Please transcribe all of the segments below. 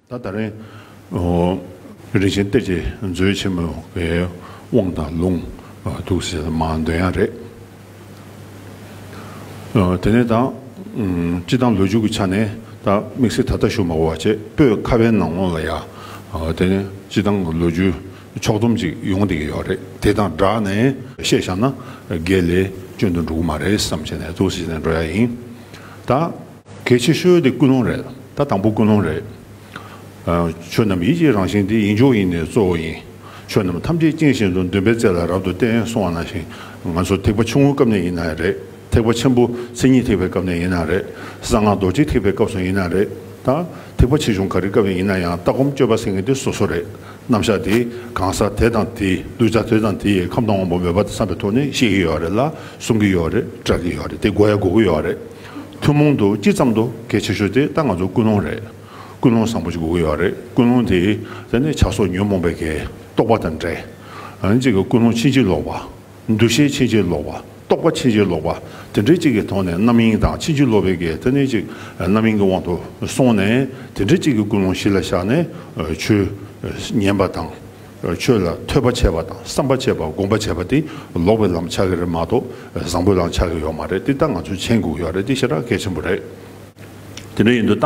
ད་ད་རེང། རིན་ཆེན་གཏེར་གྱི་མཛོད་ཆེན་མོའི་དབང་དང་ལུང་དུག་སེལ་མ་འདོན་ཡ་རེད། དེ་ནས་ད་སྤྱི་དང་ལོ་རྒྱུས་ཀྱི་ཆ་ནས་ད་དམིགས་བསལ་ད་ལྟ་ཞུ་མ་བ་བྱས་པོས་ཁ་བའི་ནང་ངོ་ལ་ཡ། དེ་ནས་སྤྱི་དང་ལོ་རྒྱུས་ཕྱོགས་སྡོམ་ཅིག་ཡོང་བསྡད་ཀྱི་ཡོད་རེད་དེ་དང་སྦྲགས་ནས་བཤད་བཞག་ན་དགེ་ལས་སྤྱོད་འདོད་འགྲོ་གི་མ་རེད་བསམ་བྱས་ནས་དུག་སེལ་བྱས་ནས་འགྲོ་ཡ་ཡིན། ད། གལ་ཆེ་ཤོས་དེ་ཀུན་སློང་རེད་ད་དང་པོ་ཀུན་སློང་རེད། ཆོས་རྣམས་ཡིད་ཀྱི་རང་བཞིན་དེ་ཡིན་མཆོག་ཡིན་ནི་གཙོ་བོ་ཡིན། ཆོས་རྣམས་ཐམས་ཅད་རྐྱེན་བཞིན་དུ་འདུན་པའི་རྩལ་ལ་རབ་ཏུ་བརྟེན་སོང་བ་ན་ཞིང་ང་ཚོ་ཐེག་པ་ཆུང་ངུའི་སྐབས་ནས་ཡིན་ན་རེད་ཐེག་པ་ཆེན་པོ་མཚན་ཉིད་ཐེག་པའི་སྐབས་ནས་ཡིན་ན་རེད་གསང་སྔགས་རྡོ་རྗེ་ཐེག་པའི་སྐབས་སུ་ཡིན་ན་རེད་ད་ཐེག་པ་ཆེ་ཆུང་ག་རེའི་སྐབས་ནས་ཡིན་ན་ཡང་ལྟ་སྒོམ་སྤྱོད་པ་ཟེར་མཁན་དེ་སོ་སོ་རེད་རྣམ་གཞག་དེ་གང་ཟག་དེ་དང་དེ་ལུས་རྩ་དེ་དང་དེ་ཡི་ཁམས་དང་དབང་པོ་མོས་པ་དང་བསམ་པའི་ཐོག་ནས་ཤེས་ཀྱི་ཡོད་རེད་ལ་གསུང་གི་ཡོད་རེད་སྐྲག་གི་ཡོད་རེད་དེ་དགོས་ཡ་དགོ་གི་ཡོད་རེད། ཐུན་མོང་དུ་སྤྱི་ཙམ་དུ་གལ་ཆེ་ཤོས་དེ་ད་ང་ཚོ་ཀུན་སློང་རེད། ཀུན་སློང་བཟང་པོ་ཞིག་དགོས་ཀྱི་ཡོད་རེད་ཀུན་སློང་དེས་དེ་ནི་བྱ་སོགས་ཉོན་མོངས་པའི་གེགས་རྟོགས་པ་དང་འདྲེ། འོན་ཅིག་ཀུན་སློང་ཕྱིན་ཅི་ལོག་པ། འདུ་ཤེས་ཕྱིན་ཅི་ལོག་པ་རྟོགས་པ་ཕྱིན་ཅི་ལོག་པ་དེ་འདྲེ་གཅིག་གི་ཐོག་ནས་རྣམ་གཡེང་དང་ཕྱིན་ཅི་ལོག་པའི་གེགས་དེ་ནི་ཅིག་རྣམ་གཡེང་གི་དབང་དུ་སོང་ནས་དེ་འདྲེ་གཅིག་གི་ཀུན་སློང་གཞི་ལ་བཞག་ནས་ཆོས་ཉན་པ་དང། ཆོས་ལ་ཐོས་པ་བྱས་པ་དང་བསམ་པ་བྱས་པ་དགོངས་པ་བྱས་པ་དེ་ལོག་པའི་ལམ་ཆགས་ཀྱི་རེད་མ་གཏོགས་བཟང་པོའི་ལམ་ཆགས་ཀྱི་ཡོད་མ་རེད་དེ་ལྟ་ང་ཚོས་མཆན་འགུག་ཡོད་རེད་དེ་ཤེས་ར་གལ་ཆེན་པོ་རེད། དེ་འདྲ་ཡིན་དུས་ད་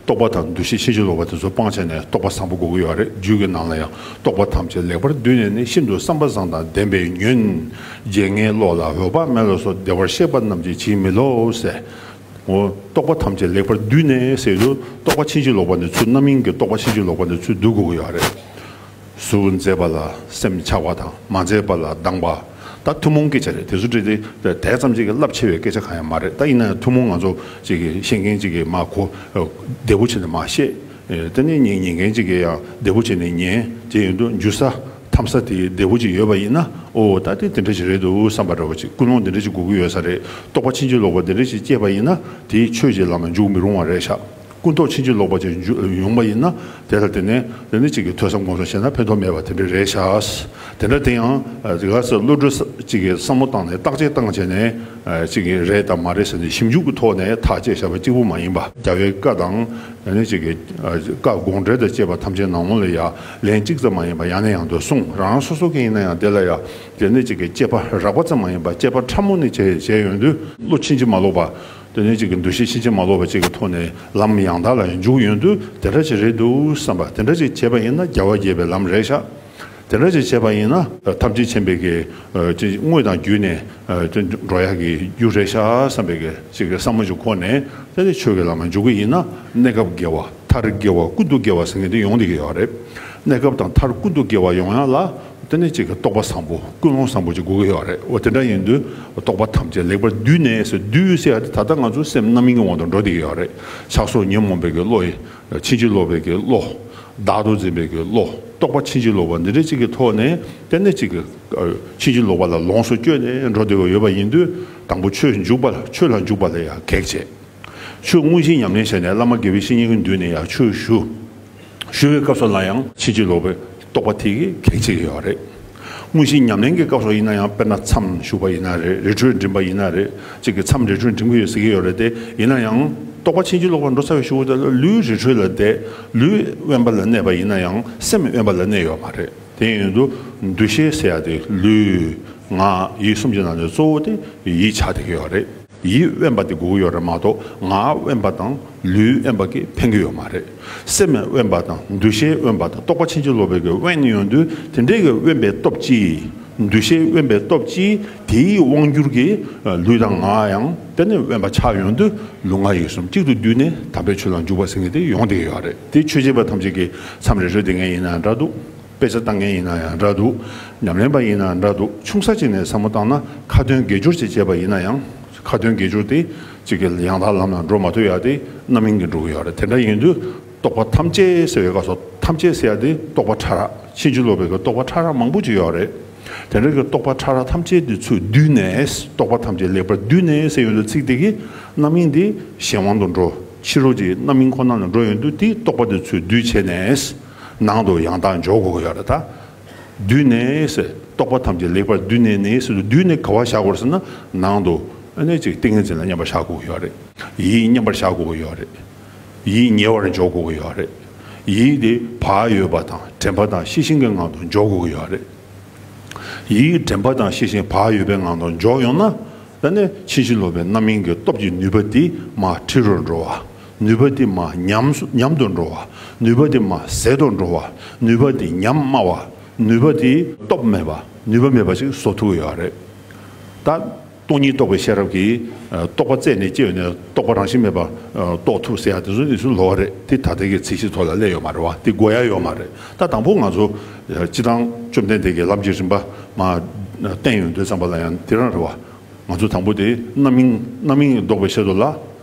རྟོགས་པ་དང་འདུ་ཤེས་ཤེས་བྱེད་ལོག་པ་དེ་ཚོ་སྤང་བྱས་ནས་རྟོགས་པ་བཟང་པོ་འགུག་གི་ཡོད་རེད་རྒྱུད་ཀྱི་ནང་ལ་ཡང་རྟོགས་པ་ཐམས་ཅད་ལེགས་པར་བསྡུས་ནས་ནི་ཤིན་ཏུ་བསམ་པ་བཟང་དང་ལྡན་པའི་ཉོན། རྗེ་ངའི་བློ་ལ་འོད་དཔག་མེད་ལ་སོགས་བདེ་བར་གཤེགས་པ་རྣམས་ཀྱིས་བྱིན་མི་ལོག་ཟེར། ངོ། རྟོག་པ་ཐམས་ཅད་ལེགས་པར་བསྡུས་ནས་ཟེར་དུས་རྟོག་པ་ཕྱིན་ཅི་ལོག་པ་ནི་ཚུལ་རྣམ་གཡེང་གི་རྟོག་པ་ཕྱིན་ཅི་ལོག་པ་ནི་ཚུལ་བསྡུ་དགོས་ཀྱི་ཡོད་རེད། གཟུགས་མཛེས་པ་ལ་སེམས་ཆགས་པ་དང་མ་མཛེས་པ་ལ་སྡང་བ། ད་ཐུན་མོང་སྐད་ཆ་རེད་དེ་ཚོ་བྲིས་ཏེ་དེ་ཙམ་ཅིག་གི་རླབས་ཆེ་བའི་སྐད་ཆ་གང་ཡང་མ་རེད་ད་ཡིན་ན་ཡང་ཐུན་མོང་ང་ཚོ་ཅིག་གི་ཤེས་མཁན་ཅིག་གིས་མ་གོ། བདེ་པོ་བྱས་ནས་མ་ཤེས། དེ་ནས་ཉན་མཁན་ཅིག་གིས་ཡང་བདེ་པོ་བྱས་ནས་ཉན། དེ་ཡིན་དུས་འཇུ་ས། འཐམ་ས་དེ་བདེ་བོ་ཅིག་ཡོད་པ་ཡིན་ན་ཨོ་ད་ལྟའི་དེ་འདྲ་ཞིག་རེད་འདུག་བསམ་པ་འདྲ་བ་ཅིག་ཀུན་སློང་དེ་འདྲ་ཅིག་དགོས་ཀྱི་ཡོད་ས་རེད་རྟོགས་པ་ཕྱིན་ཅི་ལོག་པ་དེ་འདྲ་ཞིག་སྐྱེས་པ་ཡིན་ན་དེ་ཆོས་ཀྱི་ལམ་ལ་འཇུག་མི་རུང་བ་རེད་ཤག་ཀུན་རྟོགས་ཕྱིན་ཅི་ལོག་པ་ཅིག་ཡོང་པ་ཡིན་ན་དེ་ལ་དེ་ནས་དེ་འདྲ་ཅིག་གི་ཐོས་བསམ་དགོངས་སུ་བཞེད་ན་ཕན་ཐོགས་མེད་པ་དེ་འདྲ་རེད་ཤག་དེ་འདྲ་དེ་ཡང་དེ་ག་ས་བློ་གྲོས་ཅིག་གི་བསམ་བློ་བཏང་ནས་བརྟག་དཔྱད་བཏང་བྱས་ནས་ཅིག་གི་རེད་དམ་མ་རེད་ཟེར་ནས་ཞིབ་འཇུག་གི་ཐོག་ནས་ཐག་བཅད་བྱས་པ་གཅིག་པུ་མ་ཡིན་པ། རྒྱ་བོད་བཀའ་དང། དེ་ནས་ཅིག་གི་བཀའ་དགོངས་འགྲེལ་དང་བཅས་པ་ཐམས་ཅད་ནང་ལོགས་ལ་ཡ། ལན་གཅིག་ཙམ་མ་ཡིན་པར་ཡང་ནས་ཡང་དུ་གསུངས་རང་རང་སོ་སོ་གང་ཡིན་ན་ཡང་དེ་ལ་ཡང་དེ་ནས་ཅིག་གི་དཔྱད་པ་རགས་པ་ཙམ་མ་ཡིན་པར་དཔྱད་པ་ཕྲ་མོ་ནས་བྱས་བྱས་ཡོང་དུས་བློ་ཕྱིན་ཅི་མ་ལོག་པ་དེ་ནས་ཅིག་གི་འདུ་ཤེས་ཕྱིན་ཅི་མ་ལོག་པ་ཅིག་གི་ཐོག་ནས་ལམ་ཡང་དག་ལ་འཇུག་ཡོང་དུས་དེ་འདྲ་ཅིག་རེད་འདུག་བསམ་པ་དེ་འདྲ་ཅིག་བྱས་པ་ཡིན་ན་རྒྱལ་བ་དགྱེས་པའི་ལམ་རེད་ཤག་དེ་འདྲ་ཅིག་བྱས་པ་ཡིན་ན། ཐམས་ཅད་མཁྱེན་པའི་གི་དངོས་དང་བརྒྱུད་ནས་དེ་འགྲོ་ཡག་གི་རྒྱུ་རེད་ཤག་བསམ་པའི་གི་ཅིག་གི་བསམ་བློ་ཅིག་ཁོ་ནས་དེ་ནས་ཆོས་ཀྱི་ལམ་ལ་འཇུག་གི་ཡིན་ན་གནས་སྐབས་དགེ་བ། མཐར་དགེ་བ་ཀུན་ཏུ་དགེ་བ་སེང་གེ་འདི་ཡོང་དེ་གི་ཡོད་རེད་གནས་སྐབས་དང་མཐར་ཀུན་ཏུ་དགེ་བ་ཡོང་ཡང་ལ་དེ་ནས་གཅིག་གི་རྟོགས་པ་བཟང་པོ་ཀུན་སློང་བཟང་པོ་གཅིག་དགོས་གི་ཡོད་རེད་འོ་དེ་འདྲ་ཡིན་དུས་རྟོགས་པ་ཐམས་ཅད་ལེགས་པར་བསྡུས་ནས་སོ་བསྡུས་བྱས་ཡ་དེ་ད་ལྟ་ང་ཚོ་སེམས་རྣམ་གཡེང་གི་དབང་དུ་འགྲོ་དེ་གི་ཡོད་རེད་ཆགས་སོགས་ཉོན་མོངས་པའི་གི་བློ་ཡི་ཕྱིན་ཅི་ལོག་པའི་གི་བློ། བདག་ཏུ་འཛིན་པའི་གི་བློ་རྟོགས་པ་ཕྱིན་ཅི་ལོག་པ་འདི་འདྲ་གཅིག་གི་ཐོག་ནས་དེ་ནས་གཅིག་གི་ཕྱིན་ཅི་ལོག་པ་ལ་ལོངས་སུ་སྤྱོད་ནས་འགྲོ་དེ་གི་ཡོད་པ་ཡིན་དུས་དང་པོ་ཆོས་འཇུག་པ་ལ་ཆོས་ལ་འཇུག་པ་ལ་ཡང་གེགས་བྱེད། ཆོས་དངོས་གཞི་ཉམས་ལེན་བྱས་ནས་བླ་མ་དགེ་བའི་བཤེས་གཉེན་གྱི་མདུན་ནས་ཡང་ཆོས་ཞུ། ཞུ་བའི་སྐབས་སུ་ལ་ཡང་ཕྱིན་ཅི་ལོག་པའི་རྟོག་པ་ཐིག་གེ་གཅིག་ཡོད་རེད། དངོས་གཞི་ཉམས་ལེན་གྱི་སྐབས་སོགས་ཡིན་ན་ཡང་དཔེར་ན་མཚམས་བཞུགས་པ་ཡིན་ན་རེད་རི་ཁྲོད་འགྲིམས་པ་ཡིན་ན་རེད་ཅིག་གི་མཚམས་རི་ཁྲོད་འགྲིམས་གི་ཡོད་ཟེར་གྱི་ཡོད་རེད་དེ་ཡིན་ན་ཡང་རྟོག་པ་ཕྱིན་ཅི་ལོག་པར་འགྲོ་ཚར་བའི་ཤུགས་ལ་བལྟས་ལ་ལུས་རི་ཁྲོད་ལ་བལྟས་ལུས་དབེན་པ་ལ་གནས་པ་ཡིན་ན་ཡང་སེམས་དབེན་པ་ལ་གནས་ཡོད་མ་རེད་དེ་ཡིན་དུ་འདུ་ཤེས་ཟེར་ཡག་དེ་ལུས། ངག། ཡིད་གསུམ་གྱི་ནང་ནས་གཙོ་བོ་དེ་ཡིད་ཆགས་དེ་གི་ཡོད་རེད། ཡིད་དབེན་པ་དེ་སྒུག་ཡོད་རེད་མ་གཏོགས་ངག་དབེན་པ་དང་ལུས་དབེན་པ་གིས་ཕན་གི་ཡོད་མ་རེད། སེམས་དབེན་པ་དང་འདུ་ཤེས་དབེན་པ་དང་རྟོག་པ་ཕྱིན་ཅི་ལོག་པའི་གི་དབེན་ཡོད་དུས་དེ་འདྲའི་གི་དབེན་པའི་སྟོབས་ཀྱིས་འདུ་ཤེས་དབེན་པའི་སྟོབས་ཀྱིས་དེའི་དབང་བསྒྱུར་གྱིས་ལུས་དང་ངག་ཡང་དེ་ནས་དབེན་པ་ཆགས་ཡོང་དུས་ལུས་ངག་ཡིད་གསུམ་གཅིག་ཏུ་བསྡུས་ནས་དམ་པའི་ཆོས་ལ་འཇུག་པ་ཟེར་མཁན་དེ་ཡོང་དེ་ཡོད་རེད་དེ་ཆོས་བྱེད་པ་ཐམས་ཅད་ཀྱི་མཚམས་རེ་རེ་དེ་ངས་ཡིན་ན་འདྲ་འདུག། དཔེ་ཆ་བཏང་མཁན་ཡིན་ན་ཡང་འདྲ་འདུག་ཉམས་ལེན་པ་ཡིན་ན་འདྲ་འདུག་ཆུང་ས་ཅིག་ནས་བསམ་བློ་བཏང་ན་ཁ་དོན་དགེ་སྦྱོར་ཅིག་བྱས་པ་ཡིན་ན་ཡང་ཁ་དོན་དགེ་སྦྱོར་དེ་ཅིག་གི་ཡང་དག་ལམ་ལ་འགྲོ་མ་ཐུབ་ཡག་དེ་རྣམ་སྨིན་གྱིས་འགྲོ་གི་ཡོད་རེད་དེ་འདྲ་ཡིན་དུས་རྟོག་པ་ཐམས་ཅད་སེལ་བའི་སྐབས་སུ་ཐམས་ཅད་སེལ་ཡག་དེ་རྟོག་པ་ཕྲ་རགས་ཕྱིན་ཅི་ལོག་པའི་གི་རྟོག་པ་ཕྲ་རགས་མང་པོ་ཅིག་ཡོད་རེད་དེ་འདྲ་གི་རྟོག་པ་ཕྲ་རགས་ཐམས་ཅད་དེ་ཚོས་བསྡུས་ནས་རྟོག་པ་ཐམས་ཅད་ལེགས་པར་བསྡུས་ནས་སེལ་ཡོང་དུས་ཚིག་དེ་གི་རྣམ་སྨིན་དེ་གཞན་དབང་དུ་འགྲོ་ཕྱི་རོལ་གྱི་རྣམ་སྨིན་ཁོ་ན་ལ་འགྲོ་ཡོང་དུས་དེ་རྟོག་པ་དེ་ཚོས་བསྡུས་བྱས་ནས་ནང་དུ་ཡང་དག་འཇོག་གོ་ཡང་དག་བསྡུས་ནས་རྟོག་པ་ཐམས་ཅད་ལེགས་པར་བསྡུས་ནས་ནས་སུ་བསྡུས་ནས་ག་བ་བཞག་གོ་ཟེར་ན་ནང་དུ་ནས་ཅིག་ཏིང་ངེ་འཛིན་ལ་མཉམ་པར་བཞག་གོ་ཡང་དག་རེད་ཡིད་མཉམ་པར་བཞག་གོ་ཡང་དག་རེད་ཡིད་ཉེ་བར་འཇོག་གོ་ཡང་དག་རེད་ཡིད་དེ་བག་ཡོད་པ་དང་དྲན་པ་དང་ཤེས་བཞིན་གྱི་ངང་དུ་འཇོག་གོ་ཡང་དག་རེད། ཡིད་དྲན་པ་དང་ཤེས་བཞིན་བག་ཡོད་པའི་ངང་དུ་འཇོག་ཡོང་ན། ད་ནས་ཕྱིན་ཅི་ལོག་པའི་རྣམ་སྨིན་གྱི་སྟོབས་ཀྱིས་ནུས་པ་དེས་མ་ཁྲི་རུ་འགྲོ་བ། ནུས་པ་དེ་མ་ཉམས་དུ་འགྲོ་བ། ནུས་པ་དེ་མ་ཟད་དུ་འགྲོ་བ། ནུས་པ་དེ་ཉམས་དམའ་བ། ནུས་པ་དེ་སྟོབས་མེད་པ། ནུས་པ་མེད་པ་ཞིག་བཟོ་ཐུབ་ཀྱི་ཡོད་རེད། ད། སྟོང་ཉིད་རྟོགས་པའི་ཤེས་རབ་ཀྱིས་རྟོག་པ་རྩད་ནས་བཅད་ནས་རྟོག་པ་རང་བཞིན་མེད་པ་རྟོགས་ཐུབ་ཟེར་ཡག་དེ་ཚོ་ནི་ཚུལ་ལོག་རེད་དེ་ད་ལྟའི་གི་ཚིག་གཞི་ཐོག་ལ་གླས་ཡོད་མ་རེད་བ་དེ་གོ་ཡ་ཡོད་མ་རེད་ད་དང་པོ་ང་ཚོ་སྤྱི་བཏང་བཅོམ་ལྡན་འདས་ཀྱི་ལམ་གྱི་རིམ་པ་མ་བསྟན་ཡོད་འདོད་ཙམ་པ་ལ་ཡང་དེ་རང་རེད་བ་ང་ཚོ་དང་པོ་དེ་རྣམ་སྨིན་རྣམ་སྨིན་ལྡོག་པའི་ཆེད་དུ་ལ་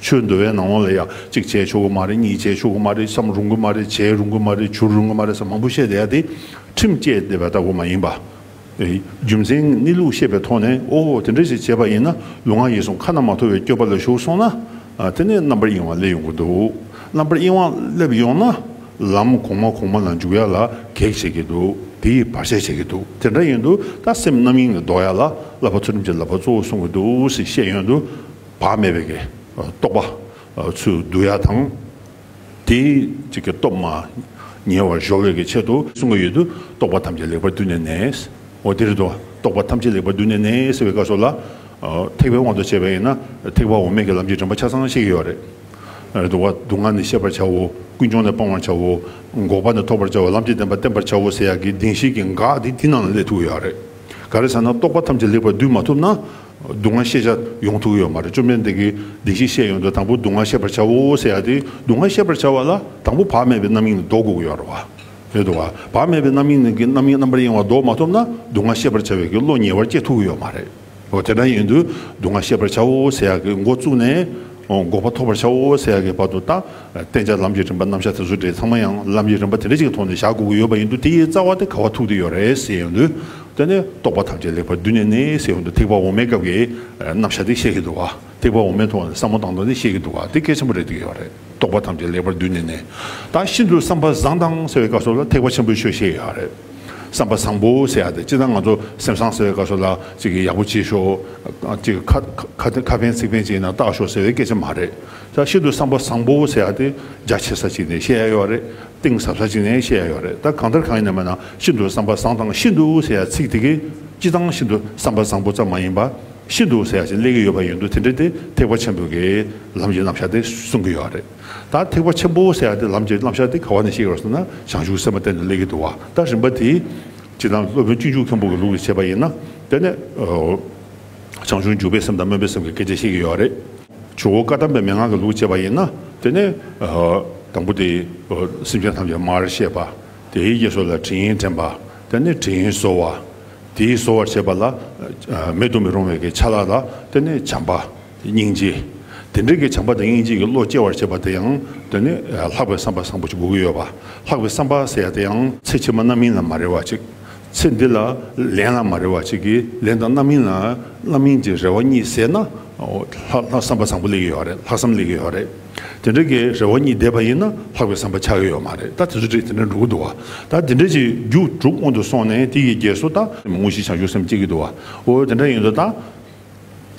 ཆོས་འདུལ་བའི་ནང་ལ་ཡང་གཅིག་བྱས་ཆོག་གི་མ་རེད་གཉིས་བྱས་ཆོག་གི་མ་རེད་བསམ་རུང་གི་མ་རེད་བྱས་རུང་གི་མ་རེད་བྱུར་རུང་གི་མ་རེད་ས་མང་པོ་བཤད་བསྡད་ཡ་དེ་ཁྲིམས་བཅས་བསྡད་པ་ལྟ་བུ་མ་ཡིན་པ། རྒྱུ་མཚན་གནས་ལུགས་ཤེས་པའི་ཐོག་ནས་ཨོ་དེ་འདྲ་ཞིག་བྱས་པ་ཡིན་ན་ལུས་ངག་ཡིད་གསུམ་ཁ་ན་མ་ཐོ་བའི་སྐྱོ་པ་ལ་ཞུགས་སོང་ན་དེ་ནས་རྣམ་པར་གཡེང་བ་སླེབས་ཡོང་གི་འདུག་རྣམ་པར་གཡེང་བ་སླེབས་ཡོང་ན་ལམ་གོང་མ་གོང་མ་ལ་འཇུག་ཡ་ལ་གེགས་བྱེད་ཀྱི་འདུག་དེ་ཡིས་བར་ཆད་བྱེད་ཀྱི་འདུག་དེ་འདྲ་ཡིན་དུས་ད་སེམས་རྣམ་གཡེང་ལས་ལྡོག་ཡ་ལ་བསླབ་པ་ཚུལ་ཁྲིམས་ཀྱི་བསླབ་པ་གཙོ་བོ་གསུང་གི་འདུག་ཟེར་བཤད་ཡོང་དུས། བག་མེད་པའི་རྟོག་པ་ཚུལ་བསྡུ་ཡ་དང། དེའི་སྟོབས་མ་ཉེ་བར་གཞོག་བའི་ཆེད་དུ་གསུངས་པ་ཡོད་དུ་རྟོག་པ་ཐམས་ཅད་ལེགས་པར་བསྡུས་ནས་ནས། འོ་དེར་དུ་རྟོག་པ་ཐམས་ཅད་ལེགས་པར་བསྡུས་ནས་ནས་ཟེར་བའི་བཀའ་སོགས་ལ། ཐེག་པའི་དབང་དུ་བྱས་པ་ཡིན་ན་ཐེག་པ་འོ་མས་ཀྱི་ལམ་གྱི་དྲན་པ་ཆ་ཚང་ཤེས་ཀྱི་ཡོད་རེད། དུ་བ་སྡུག་བསྔལ་ནི་ཤེས་པར་བྱའོ། ཀུན་འབྱུང་ནི་སྤང་བར་བྱའོ། འགོག་པ་ནི་ཐོབ་པར་བྱའོ་ལམ་གྱི་བདེན་པ་བསྟན་པར་བྱའོ་ཟེར་ཡག་གི་གདིང་ཤེས་ཀྱི་འགག་དེ་དེ་རྣམས་ལ་སླེབས་ཐུབ་ཀྱི་ཡོད་རེད། ག་རེ་ཟེར་ན་རྟོག་པ་ཐམས་ཅད་ལེགས་པར་བསྡུས་མ་ཐུབ་ན། སྡུག་བསྔལ་ཤེས་བྱ་ཡོངས་ཐུག་ཡོད་མ་རེད་བཅོམ་ལྡན་འདས་ཀྱིས་བདེན་བཞི་བཤད་ཡོད་འདུག་དང་པོ་སྡུག་བསྔལ་ཤེས་པར་བྱའོ་ཟེར་ཡ་དེ་སྡུག་བསྔལ་ཤེས་པར་བྱ་བ་ལ་དང་པོ་བག་མེད་པའི་རྣམ་གཡེང་ནི་ལྡོག་དགོས་ཀྱི་ཡོད་རེད་དོ། བག་མེད་པའི་རྣམ་གཡེང་ནི་རྣམ་གཡེང་རྣམ་པར་གཡེང་བ་ལྡོག་མ་ཐུབ་ན་སྡུག་བསྔལ་ཤེས་པར་བྱ་བའི་ཀྱི་བློ་ཉེ་བར་སྐྱེ་ཐུག་གི་ཡོད་མ་རེད། དེ་འདྲ་ཡིན་དུས་སྡུག་བསྔལ་ཤེས་པར་བྱའོ་ཟེར་ཡ་ཀྱི་མགོ་བཙུགས་ནས་འགོག་པ་ཐོབ་པར་བྱའོ་ཟེར་ཡ་ཀྱི་བར་དུ་དང་བསྟན་བྱ་ལམ་གྱི་རིམ་པ་རྣམ་གཞག་དེ་ཚོ་དེ་ཚང་མ་ཡང་ལམ་གྱི་རིམ་པ་དེ་འདྲ་གཅིག་གི་ཐོག་ནས་བཞག་དགོས་ཀྱི་ཡོད་པ་ཡིན་དུས་དེའི་རྩ་བ་དེ་ག་བ་ཐུག་དེ་ཡོད་རེད་ཟེར་ཡོད་དུས། དེ་ནས་རྟོག་པ་ཐམས་ཅད་ལེགས་པར་བསྡུས་ནས་ནི་སའི་དབང་དུ་ཐེག་པ་འོག་མའི་སྐབས་ཀྱི་རྣམ་བཞག་དེ་ཤེས་ཀྱི་འདུག་ག་ཐེག་པ་འོག་མའི་ཐོག་ནས་བསམ་བློ་བཏང་དོན་དེ་ཤེས་ཀྱི་འདུག་ག་དེ་གལ་ཆེན་པོ་རེད་འདོད་ཀྱི་རེད་རྟོག་པ་ཐམས་ཅད་ལེགས་པར་བསྡུས་ནས་ནི་ད་ཤིན་ཏུ་བསམ་པ་བཟང་དང་ཟེར་བའི་སྐབས་སོགས་ལ་ཐེག་པ་ཆེན་པོའི་ཆོས་ཤེས་ཡོད་རེད་བསམ་པ་བཟང་པོ་ཟེར་ཡག་དེ་སྤྱིར་ན་ང་ཚོ་སེམས་བཟང་ཟེར་བའི་སྐབས་སོགས་ལ་ཅིག་གིས་ཡག་པོ་བྱེད་ཤོག་ཅིག་གིས་ཁ་ཕན་ཚིག་ཕན་བྱས་ན་བལྟ་ཞོག་ཟེར་བའི་སྐད་ཆ་མ་རེད་ད་ཤིན་ཏུ་བསམ་པ་བཟང་པོ་ཟེར་ཡག་དེ་རྒྱ་ཆེ་ས་ཅིག་ནས་བཤད་ཡག་ཡོད་རེད། གཏིང་ཟབ་ས་གཅིག་ནས་བཤད་ཡག་ཡོད་རེད་ད་གང་ལྟར་གང་ཡིན་ནམ་ཡང་ཤིན་ཏུ་བསམ་པ་བཟང་དང་ཤིན་ཏུ་ཟེར་ཡག་ཚིག་དེ་གས་སྤྱི་བཏང་ཤིན་ཏུ་བསམ་པ་བཟང་པོ་ཙམ་མ་ཡིན་པ་ཤིན་ཏུ་ཟེར་ཡག་ཅིག་གླེགས་ཀྱི་ཡོད་པ་ཡིན་འདུག་དེ་འདྲ་དེ་ཐེག་པ་ཆེན་པོ་གས་ལམ་གྱི་རྣམ་གཞག་དེ་གསུང་གི་ཡོད་རེད་ད་ཐེག་པ་ཆེན་པོ་ཟེར་ཡག་དེ་ལམ་གྱི་རྣམ་གཞག་དེ་ག་བ་ནས་བཤད་ཡོད་ཟེར་ན་བྱང་ཆུབ་སེམས་པ་གཏན་ནས་གླེགས་ཀྱི་དུ་བ་ལྟར་རིམ་པ་དེ་ཇི་ལྟར་སློབ་དཔོན་སྤྱི་འཇུག་མཁན་པོ་གི་ལུགས་ལས་བྱས་པ་ཡིན་ན་དེ་ནས་བྱང་ཆུབ་འཇུག་པའི་སེམས་དང་སྨོན་པའི་སེམས་ཀྱི་སྐད་ཆ་བཤད་ཀྱི་ཡོད་རེད། ཇོ་བོ་བཀའ་གདམས་པའི་མན་ངག་གི་ལུགས་བྱེད་པ་ཡིན་ན་དེ་ནི། དང་པོ་དེ། སེམས་ཅན་ཐམས་ཅད་མར་བཤད་པ། དེའི་རྗེས་སོ་ལ་དྲི་ཡིན་དྲན་པ། དེ་ནི་དྲི་ཡིན་གསོ་བ། དེའི་གསོ་བར་བྱེད་པ་ལ། མེད་དུ་མི་རུང་བའི་གི་ཆ་ལ་ལ། དེ་ནི་བྱམས་པ། སྙིང་རྗེ། དེ་འདྲའི་གི་བྱམས་པ་དང་སྙིང་རྗེ་གི་བློ་སྐྱེ་བར་བྱེད་པ་དེ་ཡང། དེ་ནི། ལྷག་པའི་བསམ་པ་བཟང་པོ་ཅིག་དགོས་ཀྱི་ཡོད་པ། ལྷག་པའི་བསམ་པ་ཟེར་ཡ་དེ་ཡང། ཚེ་ཕྱི་མ་རྣམ་སྨིན་ལ་མ་རེ་བ་ཅིག། ཚེ་འདི་ལ་ལན་ལ་མ་རེ་བ་གཅིག་གིས་ལན་དང་རྣམ་སྨིན་ལ་རྣམ་སྨིན་གྱི་རེ་བ་གཉིས་ཟད་ན། ལྷག་བསམ་པ་བཟང་པོ་ལེགས་ཀྱི་ཡོད་རེད་ལྷག་བསམ་ལེགས་ཀྱི་ཡོད་རེད། དེ་འདྲ་གི་རེ་བ་གཉིས་འདས་པ་ཡིན་ན་ལྷག་པའི་བསམ་པ་ཆགས་ཀྱི་ཡོད་མ་རེད་ད་དེ་ཚོ་དེ་འདྲ་འགྲོ་གི་འདུག་བ་ད་དེ་འདྲ་གྱི་རྒྱུགས་དྲུག་སྔོན་དུ་སོང་ནས་དེ་ཡི་རྗེས་སུ་ད། དངོས་གཞི་བྱང་ཆུབ་སེམས་བསྐྱེད་ཀྱི་འདུག་བ་འོ་དེ་འདྲ་ཡིན་དུ་ད།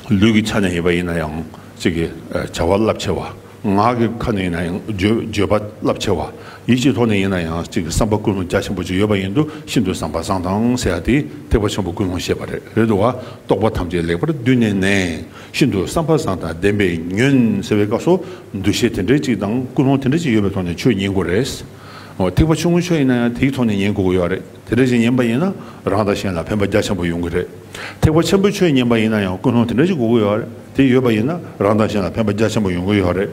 ལུས་ཀྱི་ཆ་ནས་ཡིན་པ་ཡིན་ན་ཡང་ཚིག་གི་བྱ་བ་རླབས་ཆེ་བ། ངག་གི་ཁ་ནས་ཡིན་ན་ཡང་བརྗོད་པ་རླབས་ཆེ་བ། ཡིད་ཀྱི་ཐོག་ནས་ཡིན་ན་ཡང་ཚིག་གི་བསམ་པ་ཀུན་སློང་རྒྱ་ཆེན་པོ་ཅིག་ཡོད་པ་ཡིན་དུ་ཤིན་ཏུ་བཟང་བ་བཟང་དང་ཟེར་བ་དེས་ཐེག་པ་ཆེན་པོ་ཀུན་སློང་ཤེས་པ་རེད་དོ། རྟོག་པ་ཐམས་ཅད་ལེགས་པར་བསྡུས་ནས་ནས་ཤིན་ཏུ་བསམ་པ་བཟང་དང་ལྡན་པས་ཉོན་ཟེར་བའི་སྐབས་སུ་འདུ་ཤེས་དེ་འདྲའི་ཅིག་དང་ཀུན་སློང་དེ་འདྲའི་ཅིག་ཡོད་པའི་ཐོག་ནས་ཆོས་ཉན་དགོས་རེད། ཐེག་པ་ཆུང་ངུ་ཆོས་ཡིན་ན་ཡང་དེའི་ཐོག་ནས་ཉན་དགོས་ཀྱི་ཡོད་རེད། དེ་འདྲ་ཞིག་ཡིན་པ་ཡིན་ན་རང་དང་གཞན་ལ་ཕན་པ་རྒྱ་ཆེན་པོ་ཡོང་གི་རེད། ཐེག་པ་ཆེན་པོའི་ཆོས་ཉན་པ་ཡིན་ན་ཡང་ཀུན་སློང་དེ་འདྲ་ཞིག་དགོས་ཀྱི་ཡོད་རེད་དེ་ཡོད་པ་ཡིན་ན་རང་དང་གཞན་ལ་ཕན་པ་རྒྱ་ཆེན་པོ་ཡོང་གི་ཡོད་རེད།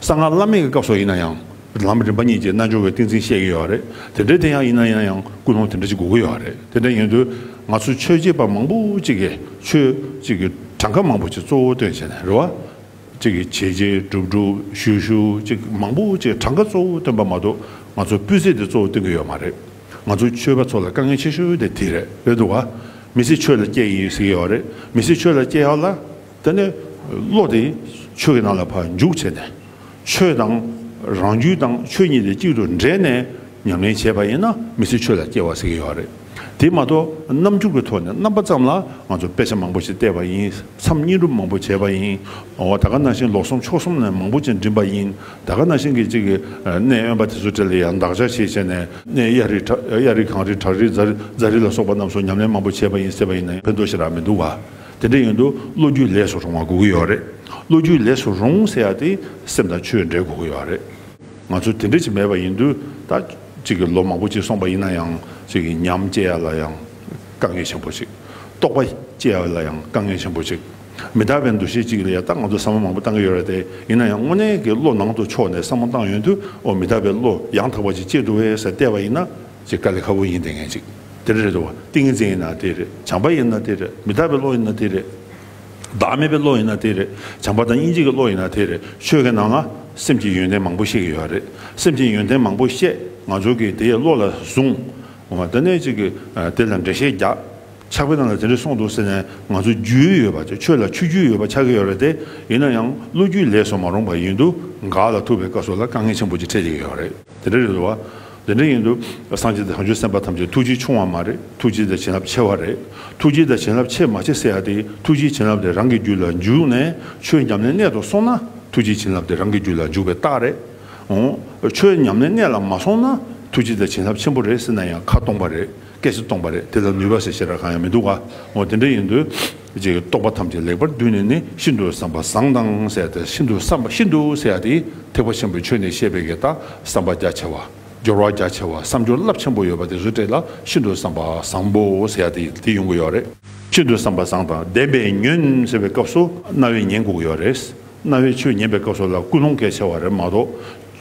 གསང་སྔགས་བླ་མེད་ཀྱི་སྐབས་སོགས་ཡིན་ན་ཡང་ལམ་རིམ་པ་གཉིས་ཀྱི་རྣལ་འབྱོར་བའི་ཏིང་འཛིན་བཤད་ཀྱི་ཡོད་རེད་དེ་འདྲ་དེ་ཡང་ཡིན་ན་ཡང་ཡང་ཀུན་སློང་དེ་འདྲ་ཞིག་དགོས་ཀྱི་ཡོད་རེད་དེ་འདྲ་ཡིན་དུས་ང་ཚོ་ཆོས་བྱེད་པ་མང་པོ་གཅིག་གིས་ཆོས་གཅིག་གི་གྲངས་ཀ་མང་པོ་ཞིག་གཙོ་བོ་སྟོན་བྱས་ནས་རེད་བ། གཅིག་གིས་བྱས་བྱས་སྒྲུབ་སྒྲུབ་ཞུས་ཞུས་གཅིག་མང་པོ་གཅིག་གྲངས་ཀ་གཙོ་བོ་སྟོན་པ་མ་གཏོགས་ང་ཚོ་སྤུས་ཚད་དེ་གཙོ་བོ་སྟོན་གི་ཡོད་མ་རེད་ང་ཚོ་ཆོས་པ་ཚོ་ལ་དཀའ་ངལ་ཆེ་ཤོས་དེ་དེ་རེད་རེད་འདུག་ག་མི་ཚེ་ཆོས་ལ་སྐྱེལ་ཡིན་ཟེར་གི་ཡོད་རེད་མི་ཚེ་ཆོས་ལ་སྐྱེལ་ཡག་ལ་དེ་ནས་བློ་དེ་ཆོས་ཀྱི་ནང་ལ་བ་འཇུག་བྱས་ནས་ཆོས་དང་རང་རྒྱུད་དང་ཆོས་གཉིས་དེ་གཅིག་ཏུ་འདྲེས་ནས་ཉམས་ལེན་བྱས་པ་ཡིན་ན་མི་ཚེ་ཆོས་ལ་སྐྱེལ་བ་ཟེར་གི་ཡོད་རེད་དེ་མ་གཏོགས་རྣམ་འགྱུར་གྱི་ཐོག་ནས་རྣམ་པ་ཙམ་ལ་ང་ཚོ་དཔེ་ཆ་མང་པོ་ཞིག་བལྟས་པ་ཡིན། མཚམས་བསྙེན་སྒྲུབ་མང་པོ་བྱས་པ་ཡིན། ད་ག་ན་ཤིང་ལོགས་སུམ་ཕྱོགས་གསུམ་ནས་མང་པོ་ཅན་འགྲིམས་པ་ཡིན། ད་ག་ན་ཤིང་གི་གཅིག་གནས་གཡོན་པ་དེ་ཚོ་དེ་ལ་ཡང་འདག་ཆ་ཞེས་བྱས་ནས་གནས་གཡའ་རི་གཡའ་རི་གངས་རི་བྲག་རི་རྫ་རི་ལ་སོགས་པ་རྣམས་སུ་ཉམས་ལེན་མང་པོ་བྱས་པ་ཡིན་ཟེར་བ་ཡིན་ན་ཕན་ཐོགས་ཤི་རག་མི་འདུག་བ། དེ་འདྲ་ཡིན་དུ་བློ་རྒྱུས་ལས་སུ་རུང་བ་དགོས་ཀྱི་ཡོད་རེད། བློ་རྒྱུས་ལས་སུ་རུང་ཟེར་ཡག་དེ་སེམས་དང་ཆོས་འབྲེལ་དགོས་ཀྱི་ཡོད་རེད། ང་ཚོ་དེ་འདྲ་ཞིག་མེད་པ་ཡིན་དུས་ད་གཅིག་གི་ལོ་མང་པོ་ཅིག་སོང་པ་ཡིན་ན་ཡང་གཅིག་གི་ཉམས་སྐྱེ་ཡག་ལ་ཡང། དཀའ་ངལ་ཆེན་པོ་གཅིག། རྟོགས་པ་སྐྱེ་བ་ལ་ཡང་དཀའ་ངལ་ཆེན་པོ་གཅིག། མི་རྟག་པའི་འདུ་ཤེས་གཅིག་ལ་ཡང་ད་ང་ཚོ་བསམ་བློ་མང་པོ་བཏང་གི་ཡོད་རེད་དེ། ཡིན་ན་ཡང་དངོས་གནས་ཀྱི་བློ་ནང་དུ་ཕྱོགས་ནས་བསམ་བློ་བཏང་ཡོང་དུས་འོ་མི་རྟག་པའི་བློ་ཡང་དག་པ་ཅིག་སྐྱེ་འགྲོ་བས་ཟེར་བལྟས་པ་ཡིན་ན། ཅེས་དཀའ་ལས་ཁ་པོ་ཡིན་དེ་ངེས་ཅིག་དེ་འདྲ་རེད་དོ། ཏིང་ངེ་འཛིན་ཡིན་ན་དེ་རེད། བྱམས་པ་ཡིན་ན་དེ་རེད། མི་རྟག་པའི་བློ་ཡིན་ན་དེ་རེད། བདག་མེད་པའི་བློ་ཡིན་ན་དེ་རེད། བྱམས་པ་དང་སྙིང་རྗེ་གི་བློ་ཡིན་ན་དེ་རེད། ཆོས་ཀྱི་ནང་ན་སེམས་ཀྱི་ཡོན་ཏན་མང་པོ་བཤད་ཀྱི་ཡོད་རེད། སེམས་ཀྱི་ཡོན་ཏན་མང་པོ་བཤད་ང་ཚོ་གིས་དེའི་བློ་ལ་བཟུང། ང་ལྟ་ནས་ཅིག་དེ་ལ་འགྲེལ་བཤད་རྒྱག། ཆགས་པའི་ནང་ལ་དེ་འདྲ་གསུངས་འདུག་ཟེར་ནས་ང་ཚོ་རྒྱུས་ཡོད་པ་ཆོས་ལ་ཆུ་རྒྱུས་ཡོད་པ་ཆགས་ཀྱི་ཡོད་རེད་དེ། ཡིན་ན་ཡང་ལོ་རྒྱུས་ལས་སོ་མ་རུང་པ་ཡིན་འདུག་འགག་ལ་ཐུག་པའི་སྐབས་སོགས་ལ་དཀའ་ངལ་ཆེན་པོ་ཅིག་འཕྲད་ཀྱི་ཡོད་རེད། དེ་འདྲ་རེད་འདུག་བ། དེ་འདྲ་ཡིན་འདུག་སངས་རྒྱས་དང་བྱང་ཆུབ་སེམས་དཔའ་ཐམས་ཅད་ཐུགས་རྗེ་ཆུང་བ་མ་རེད་ཐུགས་རྗེ་དང་བྱིན་རླབས་ཆེ་བ་རེད། ཐུགས་རྗེ་དང་བྱིན་རླབས་ཆེ་མ་ཆེ་བསྲེ་ཡ་དེ་ཐུགས་རྗེའི་བྱིན་རླབས་དེ་རང་གི་རྒྱུད་ལ་འཇུག་ནས་ཆོས་ཉམས་ལེན་གནད་དུ་སོང་ན་ཐུགས་རྗེའི་བྱིན་རླབས་དེ་རང་གི་རྒྱུད་ལ་འཇུག་པའི་རྟགས་རེད། ཆོས་ཉམས་ལེན་གནད་ལ་མ་སོང་ན་ཐུགས་རྗེ་དང་བྱིན་རླབས་ཆེན་པོ་རེད་ཟེར་ན་ཡང་ཁ་སྟོང་པ་རེད་སྐད་ཆ་སྟོང་པ་རེད་དེ་ལ་ནུས་པ་ཟེར་བྱེད་ར་གང་ཡང་མི་འདུག་ག་དེ་འདྲ་ཡིན་དུས་ཀྱི་རྟོག་པ་ཐམས་ཅད་ལེགས་པར་བསྡུས་ནས་ནི་ཤིན་ཏུ་བསམ་པ་བཟང་དང་བསྲེས་ཏེ་ཤིན་ཏུ་བསམ་པ་ཤིན་ཏུ་བསྲེས་ཏེ་ཐེག་པ་ཆེན་པོའི་ཆོས་ནི་བཤད་པའི་གེ་དང་བསམ་པ་རྒྱ་ཆེ་བ་སྦྱོར་བ་རྒྱ་ཆེ་བ་བསམ་སྦྱོར་རླབས་ཆེན་པོ་ཡོད་པ་དེ་རུ་བཀྲལ་ལ་ཤིན་ཏུ་བསམ་པ་བཟང་པོ་ཟེར་ཡ་དེ་ཡོང་གི་ཡོད་རེད། ཤིན་ཏུ་བསམ་པ་བཟང་དང་ལྡན་པའི་ཉོན་ཟེར་བའི་སྐབས་སུ་རྣ་བའི་ཉན་སྒུག་ཡོད་རེད། རྣ་བའི་ཆུ་ཉན་པའི་སྐབས་སོགས་ལ་ཀུན་སློང་གལ་ཆེ་བ་རེད་མ་གཏོགས།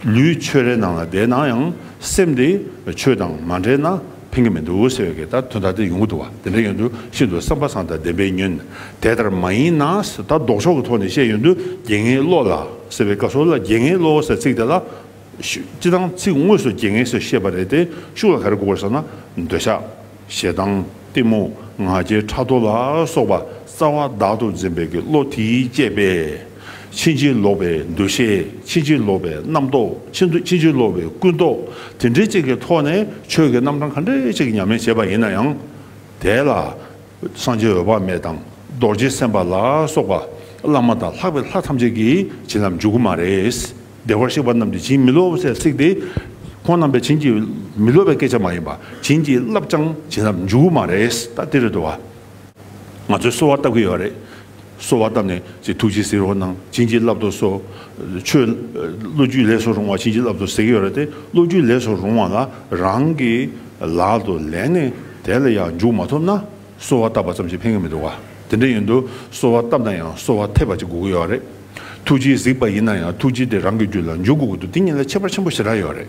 ལུས་ཆོས་རའི་ནང་ལ་བསྡད་ན་ཡང་སེམས་དེ་ཆོས་དང་མ་འབྲེལ་ན་ཕན་གྱི་མི་འདུག་ཟེར་བའི་ལྟར་དོན་དག་དེ་ཡོང་གི་འདུག་བ་དེ་འདྲ་ཡོང་དུས་ཤིན་ཏུ་བསམ་པ་བཟང་དང་བདེན་པའི་ཉོན། དེ་ལྟར་མ་ཡིན་ན་ཟེར་ད་ལྡོག་ཕྱོགས་ཀྱི་ཐོག་ནས་བཤད་ཡོང་དུས་རྒྱན་ངའི་བློ་ལ་ཟེར་བའི་སྐབས་སོགས་ལ་རྒྱན་ངའི་བློ་ཟེར་ཚིག་དེ་ལ། སྤྱི་དང་ཚིག་དངོས་སུ་རྒྱན་ངའི་ཟེར་ཤེས་པ་རེད་དེ་ཤུགས་ལ་ག་རེ་གོ་དགོས་ཟེར་ན། འདོད་ཆགས། ཞེ་སྡང། གཏི་མུག། ང་རྒྱལ་ཕྲག་དོག་ལ་སོགས་པ་རྩ་བ་བདག་ཏུ་འཛིན་པའི་ཀྱི་བློ་དེའི་བསྐྱེད་པས། ཕྱིན་ཅི་ལོག་པའི་འདུ་ཤེས་ཕྱིན་ཅི་ལོག་པའི་རྣམ་རྟོག་ཕྱིན་ཅི་ལོག་པའི་ཀུན་རྟོག་དེ་འདྲའི་ཅིག་གི་ཐོག་ནས་ཆོས་ཀྱི་རྣམ་གྲངས་ག་འདྲའི་ཅིག་ཉམས་ལེན་བྱེད་པ་ཡིན་ན་ཡང། དེ་ལ་སངས་རྒྱས་འོད་དཔག་མེད་དང་རྡོ་རྗེ་སེམས་དཔའ་ལ་སོགས་པ་བླ་མ་དང་ལྷག་པའི་ལྷ་ཐམས་ཅད་ཀྱིས་བྱིན་རླབས་འཇུག་གི་མ་རེད། བདེ་བར་གཤེགས་པ་རྣམས་ཀྱིས་བྱིན་མི་རློབ་བསད་བསྲེགས་ཏེ། ཁོང་རྣམས་པས་བྱིན་གྱིས་མི་རློབ་པའི་སྐད་ཆ་མ་ཡིན་པར་བྱིན་གྱིས་བརླབས་ཀྱང་བྱིན་རླབས་འཇུག་མ་རེད་ད་དེ་རེད་དོ། ང་ཚོས་གསོལ་བ་བཏབ་ཀྱི་ཡོད་རེད། གསོལ་བ་བཏབ་ནས་ཅིག་ཐུགས་རྗེ་གཟིགས་རོགས་གནང་བྱིན་གྱིས་བརླབ་དོ་སོ། ཆོས་བློ་རྒྱུད་ལས་སུ་རུང་བ་བྱིན་གྱིས་བརླབ་དོ་ཟེར་གྱི་ཡོད་རེད་དེ་བློ་རྒྱུད་ལས་སུ་རུང་བ་ལ་རང་གི་ལག་ཏུ་ལེན་ནས་དེ་ལ་ཡང་འཇུག་མ་ཐུབ་ན། གསོལ་བ་བཏབ་པ་ཙམ་གྱིས་ཕན་གྱི་མི་འདུག་དེ་འདྲ་ཡིན་དུས་གསོལ་བ་བཏབ་ན་ཡང་གསོལ་བ་ཐེབས་པ་ཅིག་དགོས་ཀྱི་ཡོད་རེད། ཐུགས་རྗེའི་གཟིགས་པ་ཡིན་ན་ཡང་ཐུགས་རྗེ་དེ་རང་གི་རྒྱུད་ལ་འཇུག་དགོས་ཀྱི་འདུག་དེ་གཉིས་ལ་ཁྱད་པར་ཆེན་པོ་ཞེ་དྲག་ཡོད་རེད།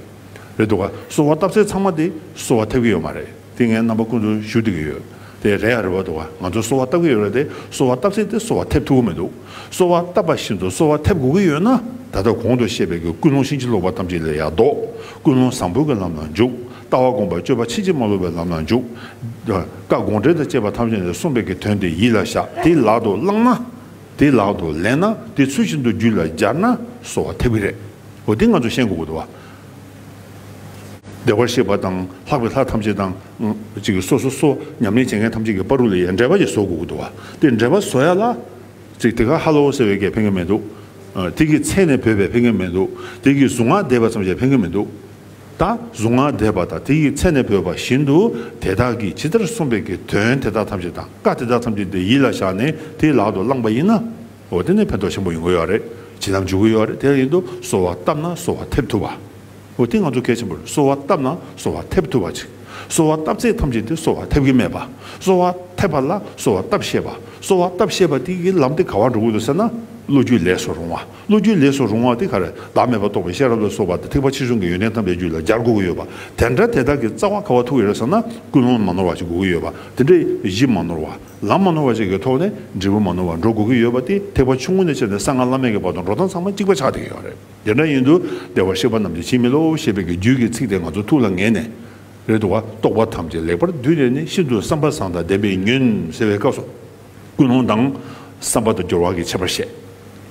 རེད་འདུག་གསོལ་བ་བཏབ་ཚད་ཚང་མ་དེ་གསོལ་བ་ཐེབས་ཀྱི་ཡོད་མ་རེད་དེ་ངའི་རྣམ་པ་ཀུན་ཏུ་ཞུ་བསྡད་ཀྱི་ཡོད་དེ་རེད་ཡ་རེད་བ་འདུག་ང་ཚོ་གསོལ་བ་བཏབ་ཀྱི་ཡོད་རེད་དེ་གསོལ་བ་བཏབ་ཚད་དེ་གསོལ་བ་ཐེབས་ཐུབ་ཀྱི་མི་འདུག་གསོལ་བ་བཏབ་པ་བཞིན་དུ་གསོལ་བ་ཐེབས་དགོས་ཀྱི་ཡོད་ན་ད་ལྟ་གོང་དུ་བཤད་པའི་ཀུན་སློང་བཞིན་ཅི་ལོག་པ་ཐམས་ཅད་ལས་ཡར་ལྡོག་ཀུན་སློང་བཟང་པོའི་ལམ་ལ་འཇུག། ལྟ་བ་བསྒོམ་པ་སྤྱོད་པ་ཕྱིན་ཅི་མ་ལོག་པའི་ལམ་ལ་འཇུག། བཀའ་དགོངས་འགྲེལ་དང་བཅས་པ་ཐམས་ཅད་ནས་གསུངས་པའི་གི་དོན་དེ་ཡིད་ལ་བཞག་དེ་ལག་ཏུ་བླངས་ན། དེ་ལག་ཏུ་ལེན་ན་དེ་ཚུལ་བཞིན་དུ་རྒྱུད་ལ་སྦྱར་ན་གསོ་བ་ཐེབས་ཀྱི་རེད། འོ་དེ་ང་ཚོས་ཤེས་དགོས་དགོས་དེ་བ། བདེ་བར་གཤེགས་པ་དང་ལྷག་པའི་ལྷ་ཐམས་ཅད་དང། གཅིག་གིས་སོ་སོ་སོ་ཉམས་ལེན་བྱེད་མཁན་ཐམས་ཅད་ཀྱི་པར་རུ་ལ་ཡང་འགྲེལ་པ་ཞིག་བཟོ་དགོས་དགོས་དེ་བ། དེ་འགྲེལ་པ་བཟོ་ཡ་ལ། གཅིག་དེ་ག་ཧ་ལོ་ཟེར་བའི་སྐད་ཕན་གི་མི་འདུག། དེ་གི་མཚན་ནས་བོས་པའི་ཕན་གི་མི་འདུག་དེ་གི་གཟུངས་སྔགས་བཟླས་པ་ཙམ་ཞིག་ཕན་གི་མི་འདུག། ད་གཟུངས་སྔགས་བཟླས་པ་དང་དེ་ཡི་ཚེ་ནས་བོས་པ་བཞིན་དུ་དེ་དག་གིས་ཇི་ལྟར་གསུངས་པའི་གི་དོན་དེ་དག་ཐམས་ཅད་དང་བཀའ་དེ་དག་ཐམས་ཅད་དེ་ཡིད་ལ་བཞག་ནས་དེ་ལག་ཏུ་བླངས་པ་ཡིན་ན། འོ་དེ་ནས་ཕན་ཐོགས་ཆེན་པོ་ཡོང་གི་ཡོད་རེད་བྱིན་རླབས་འཇུག་གི་ཡོད་རེད་དེ་ཡིན་དུ་གསོལ་བ་བཏབ་ན་གསོལ་བ་ཐེབས་ཐུབ་བ། འོ་དེ་ང་ཚོ་གལ་ཆེན་པོ་རེད་གསོལ་བ་བཏབ་ན་གསོལ་བ་ཐེབས་ཐུབ་བ་ཅིག་གསོལ་བ་བཏབ་ཚད་ཐམས་ཅད་དེ་གསོལ་བ་ཐེབས་ཀྱི་མེད་པ་གསོལ་བ་ཐེབས་པ་ལ་གསོལ་བ་བཏབ་ཤེས་པ་གསོལ་བ་བཏབ་ཤེས་པ་དེ་ཡི་ལམ་དེ་ག་བར་འགྲོ་གི་འདུག་ཟེར་ན་བློ་རྒྱུད་ལས་སུ་རུང་བ། བློ་རྒྱུད་ལས་སུ་རུང་བ་དེ་ག་རེ་བདག་མེད་པར་རྟོགས་པའི་ཤེས་རབ་ལ་སོགས་པ་དེ་ཐེག་པ་ཕྱི་གཞུང་གི་ཡོན་ཏན་དམ་པའི་རྒྱུད་ལ་སྦྱར་དགོས་ཀྱི་ཡོད་པ་དེ་འདྲ་དེ་དག་གི་རྩ་བ་ག་བ་ཐུག་ཡོད་རེད་བསམ་ན་ཀུན་སློང་མ་ནོར་བ་ཞིག་དགོས་ཀྱི་ཡོད་པ་དེ་འདྲ་གཞི་མ་ནོར་བ་ལམ་མ་ནོར་བ་ཞིག་གི་ཐོག་ནས་འབྲས་བུ་མ་ནོར་བར་འགྲོ་དགོས་ཀྱི་ཡོད་པ་དེ་ཐེག་པ་ཆུང་ངུ་ནས་བྱས་ནས་གསང་སྔགས་བླ་མེད་ཀྱི་བར་དུ་འགྲོ་སྟངས་ཚང་མ་གཅིག་པ་ཆགས་བསྡད་ཀྱི་ཡོད་རེད་དེ་འདྲ་ཡིན་དུ་བདེ་བར་གཤེགས་པ་རྣམས་ཀྱི་ཕྱིར་མི་སློབ་ཞེས་པའི་གི་རྒྱུད་ཀྱི་ཚིག་དེ་ང་ཚོ་ཐུགས་ལ་ངེས་ནས་རེད་འདུག་བ་རྟོགས་པ་ཐམས་ཅད་ལེགས་པར་བསྡུས་ནས་ནི་ཤིན་ཏུ་བསམ་པ་བཟང་དང་ལྡན་པའི་ཉོན་ཟེར་བའི་སྐབས་སུ། ཀུན་སློང་དང། བསམ་པ་དང་སྦྱོར་བ་གྱི་ཁྱད་པར་བཤད།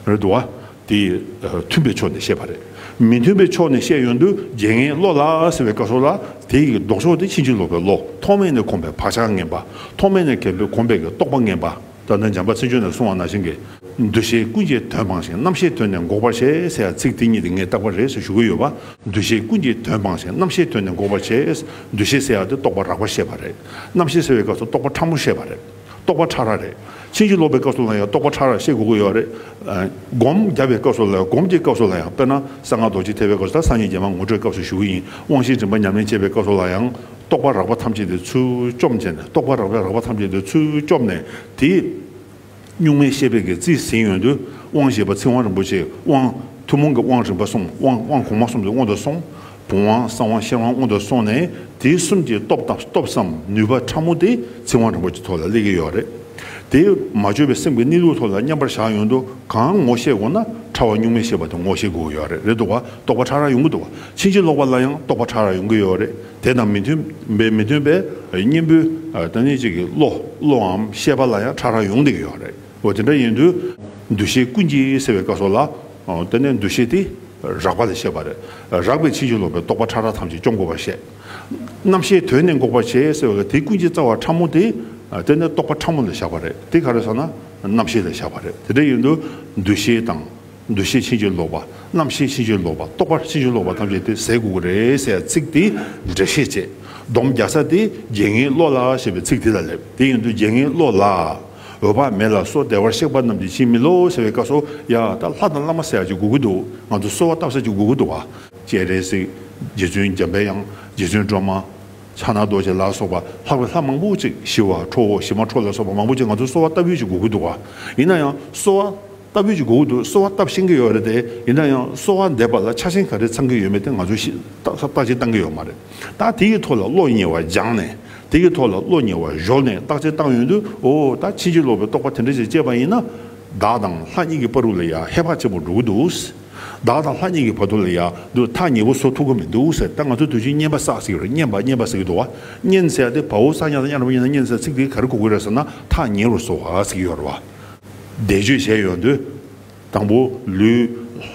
རེད་དུ་བ། དེ་མཐུན་པའི་ཕྱོགས་ནས་བཤད་པ་རེད། མི་མཐུན་པའི་ཕྱོགས་ནས་བཤད་ཡོན་དུ་རྗེ་ངའི་བློ་ལ་ཟེར་བའི་བཀའ་སྲོལ་ལ། དེ་ཡི་ལྡོག་ཕྱོགས་དེ་ཕྱིན་ཅི་ལོག་པའི་བློ་ཐོག་མེད་ནས་གོམས་པའི་བག་ཆགས་ངན་པ། ཐོག་མེད་ནས་གལ་པོའི་གོམས་པའི་རྟོག་པ་ངན་པ། ད་ནི་འཇམ་པ་ཚིག་ཆོས་ནས་གསུང་བ་ན་བཞིན་གྱི། འདུ་ཤེས་ཀུན་གྱི་དོན་སྤངས་ཤིང་རྣམ་ཤེས་དོན་ནས་འགོག་པར་བྱེད་ཟེར་ཡང་ཚིག་དེ་གཉིས་དེ་ངས་བཏགས་པ་རེད་ཟེར་ཞུ་གི་ཡོད་པ། འདུ་ཤེས་ཀུན་གྱི་དོན་སྤངས་ཤིང་རྣམ་ཤེས་དོན་ནས་འགོག་པར་བྱེད། འདུ་ཤེས་ཟེར་ཡ་དེ་རྟོག་པ་རགས་པ་བཤད་པ་རེད། རྣམ་ཤེས་ཟེར་བའི་སྐབས་སུ་རྟོག་པ་ཕྲ་མོ་བཤད་པ་རེད། རྟོག་པ་ཕྲ་རགས་རེད། ཕྱིན་ཅི་ལོག་པའི་སྐབས་སུ་ལ་ཡང་རྟོག་པ་ཕྲ་རགས་ཤེས་དགོས་ཀྱི་ཡོད་རེད། སྒོམ་བརྒྱབ་པའི་སྐབས་སུ་ལ་ཡང་སྒོམ་གྱི་སྐབས་སུ་ལ་ཡང་དཔེར་ན་གསང་སྔགས་རྡོ་རྗེ་ཐེག་པའི་སྐབས་སུ་དང་སངས་རྒྱས་རྒྱལ་མ་ངོ་སྤྲོད་སྐབས་སུ་ཞུ་གི་ཡིན་དབང་བཞིའི་རིམ་པ་ཉམས་ལེན་བྱེད་པའི་སྐབས་སུ་ལ་ཡང། རྟོག་པ་རགས་པ་ཐམས་ཅད་དེ་ཚུལ་བཅོམ་བྱས་ནས་རྟོག་པ་རགས་པའི་རགས་པ་ཐམས་ཅད་དེ་ཚུལ་བཅོམ་ནས་དེ། གཉུག་མའི་ཤེས་པས་ཀྱི་རྩིས་ཟིན་ཡོད་དུས་དབང་ཞེས་པ་ཚིག་དབང་རིན་པོ་ཆེའི་དབང། ཐུན་མོང་གི་དབང་རིམ་པ་གསུམ་དབང་དབང་གོང་མ་གསུམ་དེ་དབང་དུ་སོང། བུམ་དབང་གསང་དབང་ཤེར་དབང་སྔོན་དུ་སོང་ནས་དེ་གསུམ་གྱི་སྟོབས་དང་སྟོབས་སམ་ནུས་པ་ཕྲ་མོ་དེ་ཚིག་དབང་རིན་པོ་ཆེ་ཐོག་ལ་སླེབས་ཀྱི་ཡོད་རེད། དེ་མ་བཅོས་པའི་སེམས་ཀྱི་གནས་ལུགས་ཐོག་ལ་མཉམ་པར་བཞག་ཡོང་དུ་གང་ངོ་ཤེས་དགོས་ན་ཕྲ་བ་གཉུག་མའི་ཤེས་པ་དེ་ངོ་ཤེས་དགོས་ཀྱི་ཡོད་རེད་འདུག་བ་རྟོགས་པ་ཕྲ་རགས་ཡོང་གི་འདུག་བ་ཕྱིན་ཅི་ལོག་པ་ལ་ཡང་རྟོགས་པ་ཕྲ་རགས་ཡོང་གི་ཡོད་རེད་དེ་དང་མི་མཐུན་པའི་མི་མཐུན་པའི་གཉེན་པོའི་ཏེ་ནི་གཅིག་གི་བློ་བློའམ་ཤེས་པ་ལ་ཡང་ཕྲ་རགས་ཡོང་གི་ཡོད་རེད། འོ་དེ་འདྲ་ཡིན་དུས་འདུ་ཤེས་ཀུན་གྱིས་སེལ་བའི་བཀའ་སོགས་ལ། དེ་ནས་འདུ་ཤེས་དེ་རགས་པ་ལས་བཤད་པ། རགས་པའི་ཕྱིན་ཅི་ལོག་པའི་རྟོག་པ་ཕྲ་རགས་ཐམས་ཅད་སྐྱོང་དགོས་པར་བཤད། རྣམ་ཤེས་དོན་ནི་འགོག་པར་བྱེད་ཟེར་བ་ལ་དེ་ཀུན་གྱི་རྩ་བ་ཕྲ་མོ་དེ། དེ་ནི་རྟོག་པ་ཕྲ་མོ་ལ་བཞག་པ་རེད་དེ་ག་རེ་སོང་ན་རྣམ་ཤེས་ལ་བཞག་པ་རེད་དེ་འདྲ་ཡིན་དུས་འདུ་ཤེས་དང། འདུ་ཤེས་ཕྱིན་ཅི་ལོག་པ། རྣམ་ཤེས་ཕྱིན་ཅི་ལོག་པ་རྟོག་པ་ཕྱིན་ཅི་ལོག་པ་ཐམས་ཅད་དེ་ཟད་དགོས་ཀྱི་རེད་ཟེར་བ་ཚིག་དེ་འགྲེལ་བཤད་བྱེད་སྡོམ་རྒྱག་ས་དེ་རྒྱལ་ངའི་བློ་ལ་ཞེས་པའི་ཚིག་དེ་ལ་སླེབས་དེ་ཡིན་དུས་རྒྱལ་ངའི་བློ་ལ། འོད་དཔག་མེད་ལ་སོགས་བདེ་བར་གཤེགས་པ་རྣམས་ཀྱི་ཕྱིར་མི་སློབ་བོ་ཟེར་བའི་སྐབས་སུ། ཡ། ད་ལྷ་དང་བླ་མ་བསད་ཅིག་གུ་གུ་འདུག་ང་ཚོ་གསོལ་བ་བཏབ་ས་ཅིག་གུ་གུ་འདུག་བ། ཅེས་རེ་ཟིག། རྗེ་བཙུན་འཇམ་པའི་དབྱངས། རྗེ་བཙུན་སྒྲོལ་མ། ཕྱག་ན་རྡོ་རྗེ་ལ་སོགས་པ་ལྷག་པའི་ལྷ་མང་པོ་ཅིག་ཞི་བ་འཕྲོ་བོ་ཞི་མ་འཕྲོ་ལ་སོགས་པ་མང་པོ་ཅིག་ང་ཚོ་གསོལ་བ་བཏབ་ཡོད་ཅིག་གུ་གུ་འདུག་བ། ཡིན་ན་ཡང་གསོལ་བ། ལྟ་བུའི་གྱི་གོང་དུ་གསོལ་བ་བཏབ་ཤེས་ཀྱི་ཡོད་རེད་དེ། ཡིན་ན་ཡང་གསོལ་བ་འདེབས་པ་ལ་ཆ་ཞེན་ག་རེ་ཚང་གི་ཡོད་མེད་དེ་ང་ཚོས་ཤེས་རྟགས་ཅན་བཏང་གི་ཡོད་མ་རེད། ད་དེ་གི་ཐོག་ལ་བློ་ཉེ་བ་སྦྱངས་ནས་དེ་གི་ཐོག་ལ་བློ་ཉེ་བ་གཞོལ་ནས་བརྟག་དཔྱད་བཏང་ཡོང་དུས་འོ་ད་ཕྱིན་ཅི་ལོག་པའི་རྟོག་པ་དེ་འདྲ་ཞིག་སྐྱེས་པ་ཡིན་ན། བདག་དང་ལྷ་གཉིས་ཀྱི་བར་རུ་ལ་ཡང་ཧེ་བག་ཆེན་པོ་འགྲོ་གི་འདུག། བདག་དང་ལྷ་གཉིས་ཀྱི་བར་དུ་ལ་ཡང་དུ་ཐག་ཉེ་བོ་བཟོ་ཐུབ་ཀྱི་མི་འདུག་ཟེར་ད་ང་ཚོས་དུས་ཆེན་སྙན་པ་བསགས་ཟིག་རེད་སྙན་པ་སྙན་པ་ཟེར་གྱི་འདུག་བ་སྙན་ཟེར་ཡ་དེ་བ་འུ་ས་ཉག་དང་གཡར་བ་ཡིན་ན་སྙན་ཟེར་ཚིག་དེ་ག་རེ་གོ་དགོས་རེད་ཟེར་ན་ཐག་ཉེ་རུ་བཟོ་བ་ཟེར་གྱི་ཡོད་རེད་བ། བཟླས་བརྗོད་བྱས་ཡོང་དུས། དང་པོ་ལུས་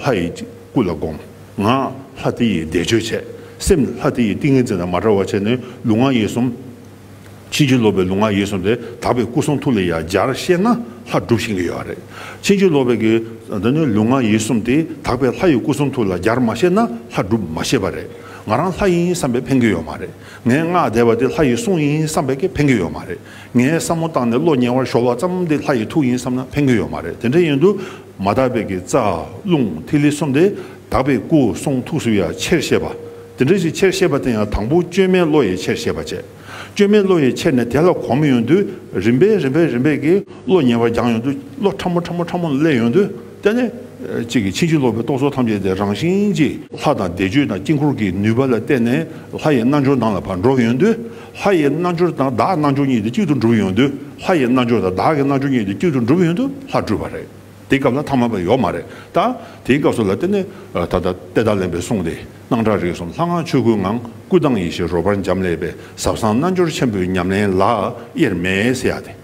ལྷ་ཡི་སྐུ་ལ་བསྒོམ། ངག་ལྷ་དེ་ཡིས་བཟླས་བརྗོད་བྱས། སེམས་ལྷ་དེ་ཡི་ཏིང་ངེ་འཛིན་དང་མ་བྲལ་བར་བྱས་ནས་ལུས་ངག་ཡིད་གསུམ། ཕྱིན་ཅི་ལོག་པའི་ལུས་ངག་ཡིད་གསུམ་དེ་དག་པའི་སྐུ་གསུང་ཐུགས་ལ་ཡང་སྦྱར་ཤེས་ན་ལྷ་སྒྲུབ་ཤེས་ཀྱི་ཡོད་རེད། ཕྱིན་ཅི་ལོག་པའི་དེ་ནི་ལུས་ངག་ཡིད་གསུམ་དེ་དག་པའི་ལྷ་ཡི་སྐུ་གསུང་ཐུགས་ལ་སྦྱར་མ་ཤེས་ན་ལྷ་སྒྲུབ་མ་ཤེས་པ་རེད། ང་རང་ལྷ་ཡིན་བསམ་པས་ཕན་གྱི་ཡོད་མ་རེད། ངས་ངག་བཟླས་པ་དེ་ལྷ་ཡི་གསུང་ཡིན་བསམ་པས་ཀྱི་ཕན་གྱི་ཡོད་མ་རེད། ངས་བསམ་བློ་བཏང་ནས་བློ་ཉེ་བར་ཞོག་ལ་ཙམ་འདི་ལྷ་ཡི་ཐུགས་ཡིན་བསམ་ན་ཕན་གི་ཡོད་མ་རེད་དེ་འདྲ་ཡིན་དུ་མ་དག་པའི་གི་རྩ་རླུང་ཐིག་ལེ་གསུམ་དེ་དག་པའི་སྐུ་གསུང་ཐུགས་སུ་ཡང་ཆེར་ཤེས་པ་དེ་འདྲ་ཞིག་ཆེར་ཤེས་པ་དེ་ཡང་དང་པོ་བཅོས་མའི་བློ་ཡིས་ཆེར་ཤེས་པ་བྱེད་བཅོས་མའི་བློ་ཡིས་ཆེར་ནས་དེ་ལ་གོམས་ཡོང་དུས་རིམ་པས་རིམ་པས་རིམ་པས་གི་བློ་ཉེ་བར་སྦྱངས་ཡོང་དུས་བློ་ཕྲ་མོ་ཕྲ་མོ་ཕྲ་མོ་ལས་ཡོང་དུས། རྟེན་ནི། གཅིག་གིས་ཕྱིན་ཅི་ལོག་པའི་རྟོག་ཚོགས་ཐམས་ཅད་དེ་རང་བཞིན་གྱིས་ལྷ་དང་བཟླས་བརྗོད་དང་དཀྱིལ་འཁོར་གྱི་ནུས་པ་ལ་བརྟེན་ནས་ལྷ་ཡི་རྣལ་འབྱོར་དང་ལ་བར་འགྲོགས་ཡོང་དུས་ལྷ་ཡི་རྣལ་འབྱོར་དང་བདག་རྣལ་འབྱོར་གཉིས་དེ་གཅིག་ཏུ་འགྲུབ་ཡོང་དུས་ལྷ་ཡི་རྣལ་འབྱོར་དང་བདག་གི་རྣལ་འབྱོར་གཉིས་དེ་གཅིག་ཏུ་འགྲུབ་ཡོང་དུས་ལྷ་སྤྲུལ་པ་རེད། དེའི་སྐབས་ལ་ཐ་མ་པ་ཡོད་མ་རེད་ད། དེའི་སྐབས་སུ་ལ་བརྟེན་ནས་ད་ལྟ་དཔལ་ཐ་ལན་པའི་གསུང་སྟེ་སྣང་གྲགས་རིག་གསུམ་ལྷ་སྔགས་ཆོས་སྐུའི་ངང་སྐུ་དང་ཡེ་ཤེས་རོལ་པར་འབྱམས་ཀླས་པའི་ཟབ་གསང་རྣལ་འབྱོར་ཆེན་པོའི་ཉམས་ལེན་ལ་དབྱེར་མེད་བསྲེ་ཡ་སྟེ།